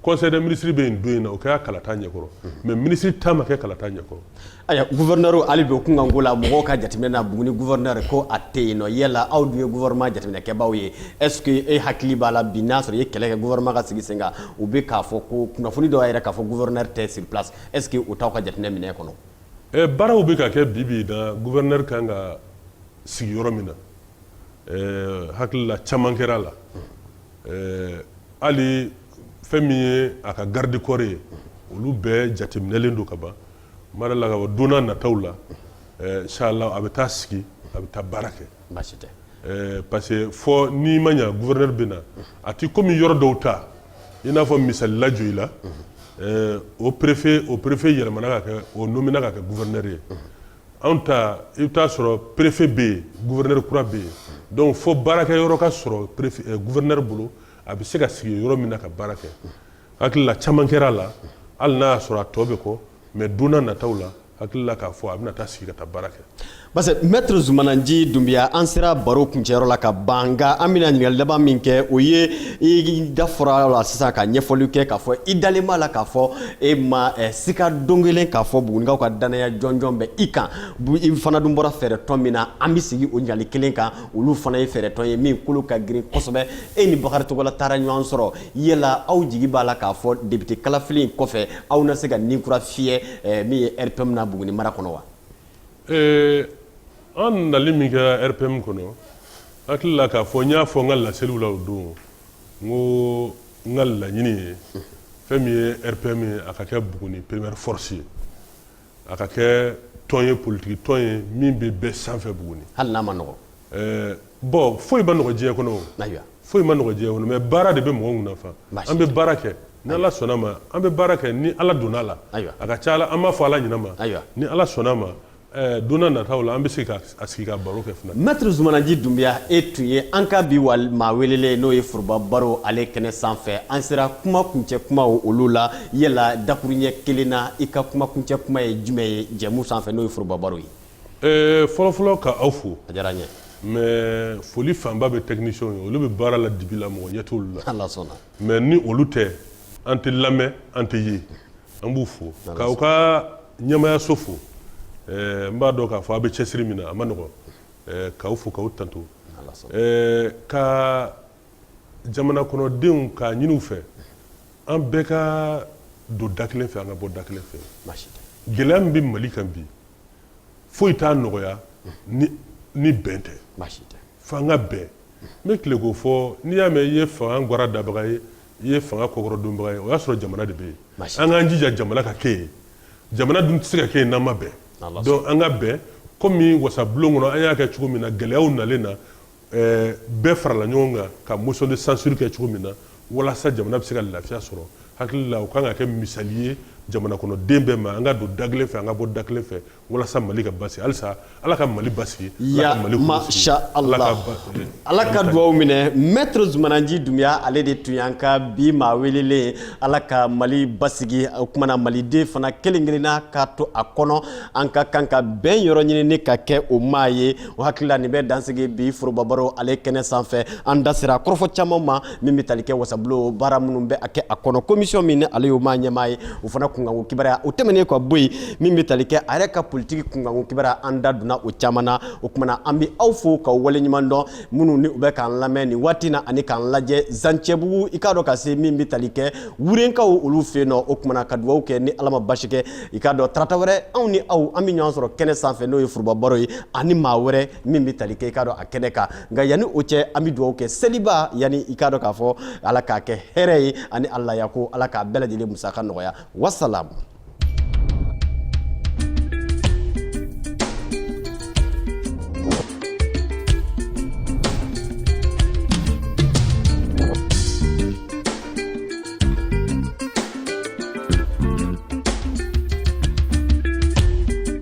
conseil des ministres bɛ yen don in na o kɛra kalata ɲɛkɔrɔ mais minisiri ta ma kɛ kalata ɲɛkɔrɔ Ayiwa gouverneur hali bi o kunkanko la mɔgɔw ka jateminɛ na buguni gouverneur ko a tɛ yen nɔ yala aw dun ye gouvernement jateminɛkɛbaaw ye est-ce que e hakili b'a la bi n'a sɔrɔ i ye kɛlɛ kɛ gouvernement ka sigi sen kan u bɛ k'a fɔ ko kunnafoni dɔw yɛrɛ k'a fɔ gouverneur tɛ sur place est-ce que o t'aw ka jateminɛ minɛ kɔnɔ baaraw bɛ ka kɛ bibi na gouverneur ka kan ka sigi yɔrɔ min na hakili la caman kɛra a la Ɛɛ hali fɛn min ye a ka garde corps ye olu bɛɛ jateminɛlen don ka ban mara la ka ban don nataw la inchallah a bɛ taa sigi a bɛ taa baara kɛ parce que fɔ n'i ma ɲɛ gouverneur bɛ na a tɛ komi yɔrɔ dɔw ta i n'a fɔ misali la joyila o perefe o perefe yɛlɛmana ka kɛ o nomina ka kɛ gouverneur ye anw ta i bɛ taa sɔrɔ perefe bɛ yen gouverneur kura bɛ yen donc fo baarakɛ yɔrɔ ka sɔrɔ gouverneur bolo a bɛ se ka sigi yɔrɔ min na ka baara kɛ hakili la caman kɛra a la hali n'a y'a sɔrɔ a tɔ bɛ kɔ mais don nataw la hakili la k'a fɔ a bɛna taa sigi ka taa baara kɛ parce que maître zumanaji dunbiya an sera baro kun cɛyɔrɔ la ka ban nka an bɛna ɲininkali laban min kɛ o ye i da fɔra la sisan ka ɲɛfɔli kɛ k'a fɔ i dalen b'a la k'a fɔ e ma eh, sika don kelen k'a fɔ bugunikaw ka dannaya jɔnjɔn bɛ i kan i fana dun bɔra fɛɛrɛtɔn min na an bɛ segin o ɲininkali kelen kan olu fana ye fɛɛrɛtɔn ye min kolo ka girin kosɛbɛ e ni bakari togola taara ɲɔgɔn sɔrɔ yala aw jigi b'a la k'a fɔ depite kalafili in kɔfɛ aw na se ka ni kura fiyɛ eh, min ye rpm na buguni mara kɔnɔ wa eh, an nali min kɛra rpm kɔnɔ hakili la k'a fɔ n y'a fɔ n ka laseliw la o don n ko n ka laɲini ye fɛn min ye rpm ye a ka kɛ buguni première force ye a ka kɛ tɔn ye politiki tɔn ye min bɛ bɛɛ sanfɛ buguni hali n'a man nɔgɔ eh, bon foyi man nɔgɔ diɲɛ kɔnɔ foyi man nɔgɔ diɲɛ kɔnɔ mais baara de bɛ mɔgɔ kun nafa an bɛ baara kɛ ni ala sɔnna ma an bɛ baara kɛ ni ala donna a la a ka ca a la an b'a fɔ ala ɲɛnama ni ala sɔnna ma Eh, don nataw la an bɛ se ka sigi ka baro kɛ fana mɛtiri zumanaji dunbiya e tun ye an ka bi wali maa welelen ye n'o ye foroba baro ale kɛnɛ sanfɛ an sera kuma kuncɛ kumaw olu la yala dakuruɲɛ kelen na i ka kuma kuncɛ kuma ye jumɛn ye jɛmu sanfɛ n'o ye foroba baro ye eh, fɔlɔfɔlɔ ka aw fo a diyara n ye mais foli fanba bɛ technicienw ye olu bɛ baara la dibi la mɔgɔ ɲɛ t'olu la mais ni olu tɛ an tɛ lamɛn an tɛ ye an b'u fo k'aw ka ɲɛmayaso fo n b'a dɔn k'a fɔ aw bɛ cɛsiri min na a man nɔgɔn k'aw fo k'aw tanto ka jamana kɔnɔdenw k'a ɲini u fɛ an bɛɛ ka don da kelen fɛ an ka bɔ da kelen fɛ gɛlɛya min bɛ mali kan bi foyi t'a nɔgɔya ni bɛn tɛ fo an ka bɛn n bɛ tile k'o fɔ n'i y'a mɛn i ye fanga ga dabaga ye i ye fanga kɔkɔrɔdonbaga ye o y'a sɔrɔ jamana de bɛ yen an k'an jija jamana ka kɛ yen jamana dun tɛ se ka kɛ yen n'an ma bɛn donc an ka bɛn komi wasabulon kɔnɔ an y'a kɛ cogo min na gɛlɛyaw nalen na eh, bɛɛ farala ɲɔgɔn kan ka motion de censure kɛ cogo min na walasa jamana bɛ se ka lafiya sɔrɔ hakilila o ka kan ka kɛ misali ye jamana kɔnɔ den bɛɛ ma an ka don da kelen fɛ an ka bɔ da kelen fɛ walasa mali ka basigi halisa ala ka mali basigiya masha ala ala ka dugaw minɛ maître zumana nci dunbiya ale de tun y'an ka bi maa welelen ala ka mali basigi o kuma na maliden fana kelen-kelenna ka to a kɔnɔ an ka kan ka bɛn yɔrɔ ɲini ni ka kɛ o maa ye o hakilila nin bɛ dansigi bi forobabaro ale kɛnɛ sanfɛ an da sera kɔrɔfɔ caman ma min bɛ tali kɛ wasabulon baara minnu bɛ a kɛ a kɔnɔ commission min ni ale y'o maa ɲɛmaa ye o fana kunkanko kibaruya o tɛmɛnen ka bɔ yen min bɛ tali kɛ a yɛrɛ ka politiki kunkanko kibaruya an da donna o caman na o kuma na an bɛ aw fo k'aw waleɲuman dɔn minnu ni u bɛ k'an lamɛn nin waati na ani k'an lajɛ zancɛbugu i k'a dɔn ka se min bɛ tali kɛ wurenkaw olu fɛ yen nɔ o kuma na ka dugawu kɛ ni ala ma basi kɛ i k'a dɔn tarata wɛrɛ anw ni aw an bɛ ɲɔgɔn sɔrɔ kɛnɛ sanfɛ n'o ye forobabaro ye ani maa wɛrɛ min bɛ tali kɛ i k'a dɔn a kɛnɛ kan nka yanni o cɛ an bɛ dugawu kɛ seliba yanni i k'a dɔn k'a fɔ ala k'a kɛ hɛrɛ ye ani alaya ko ala k'a bɛɛ lajɛlen musaka nɔgɔya wasalamu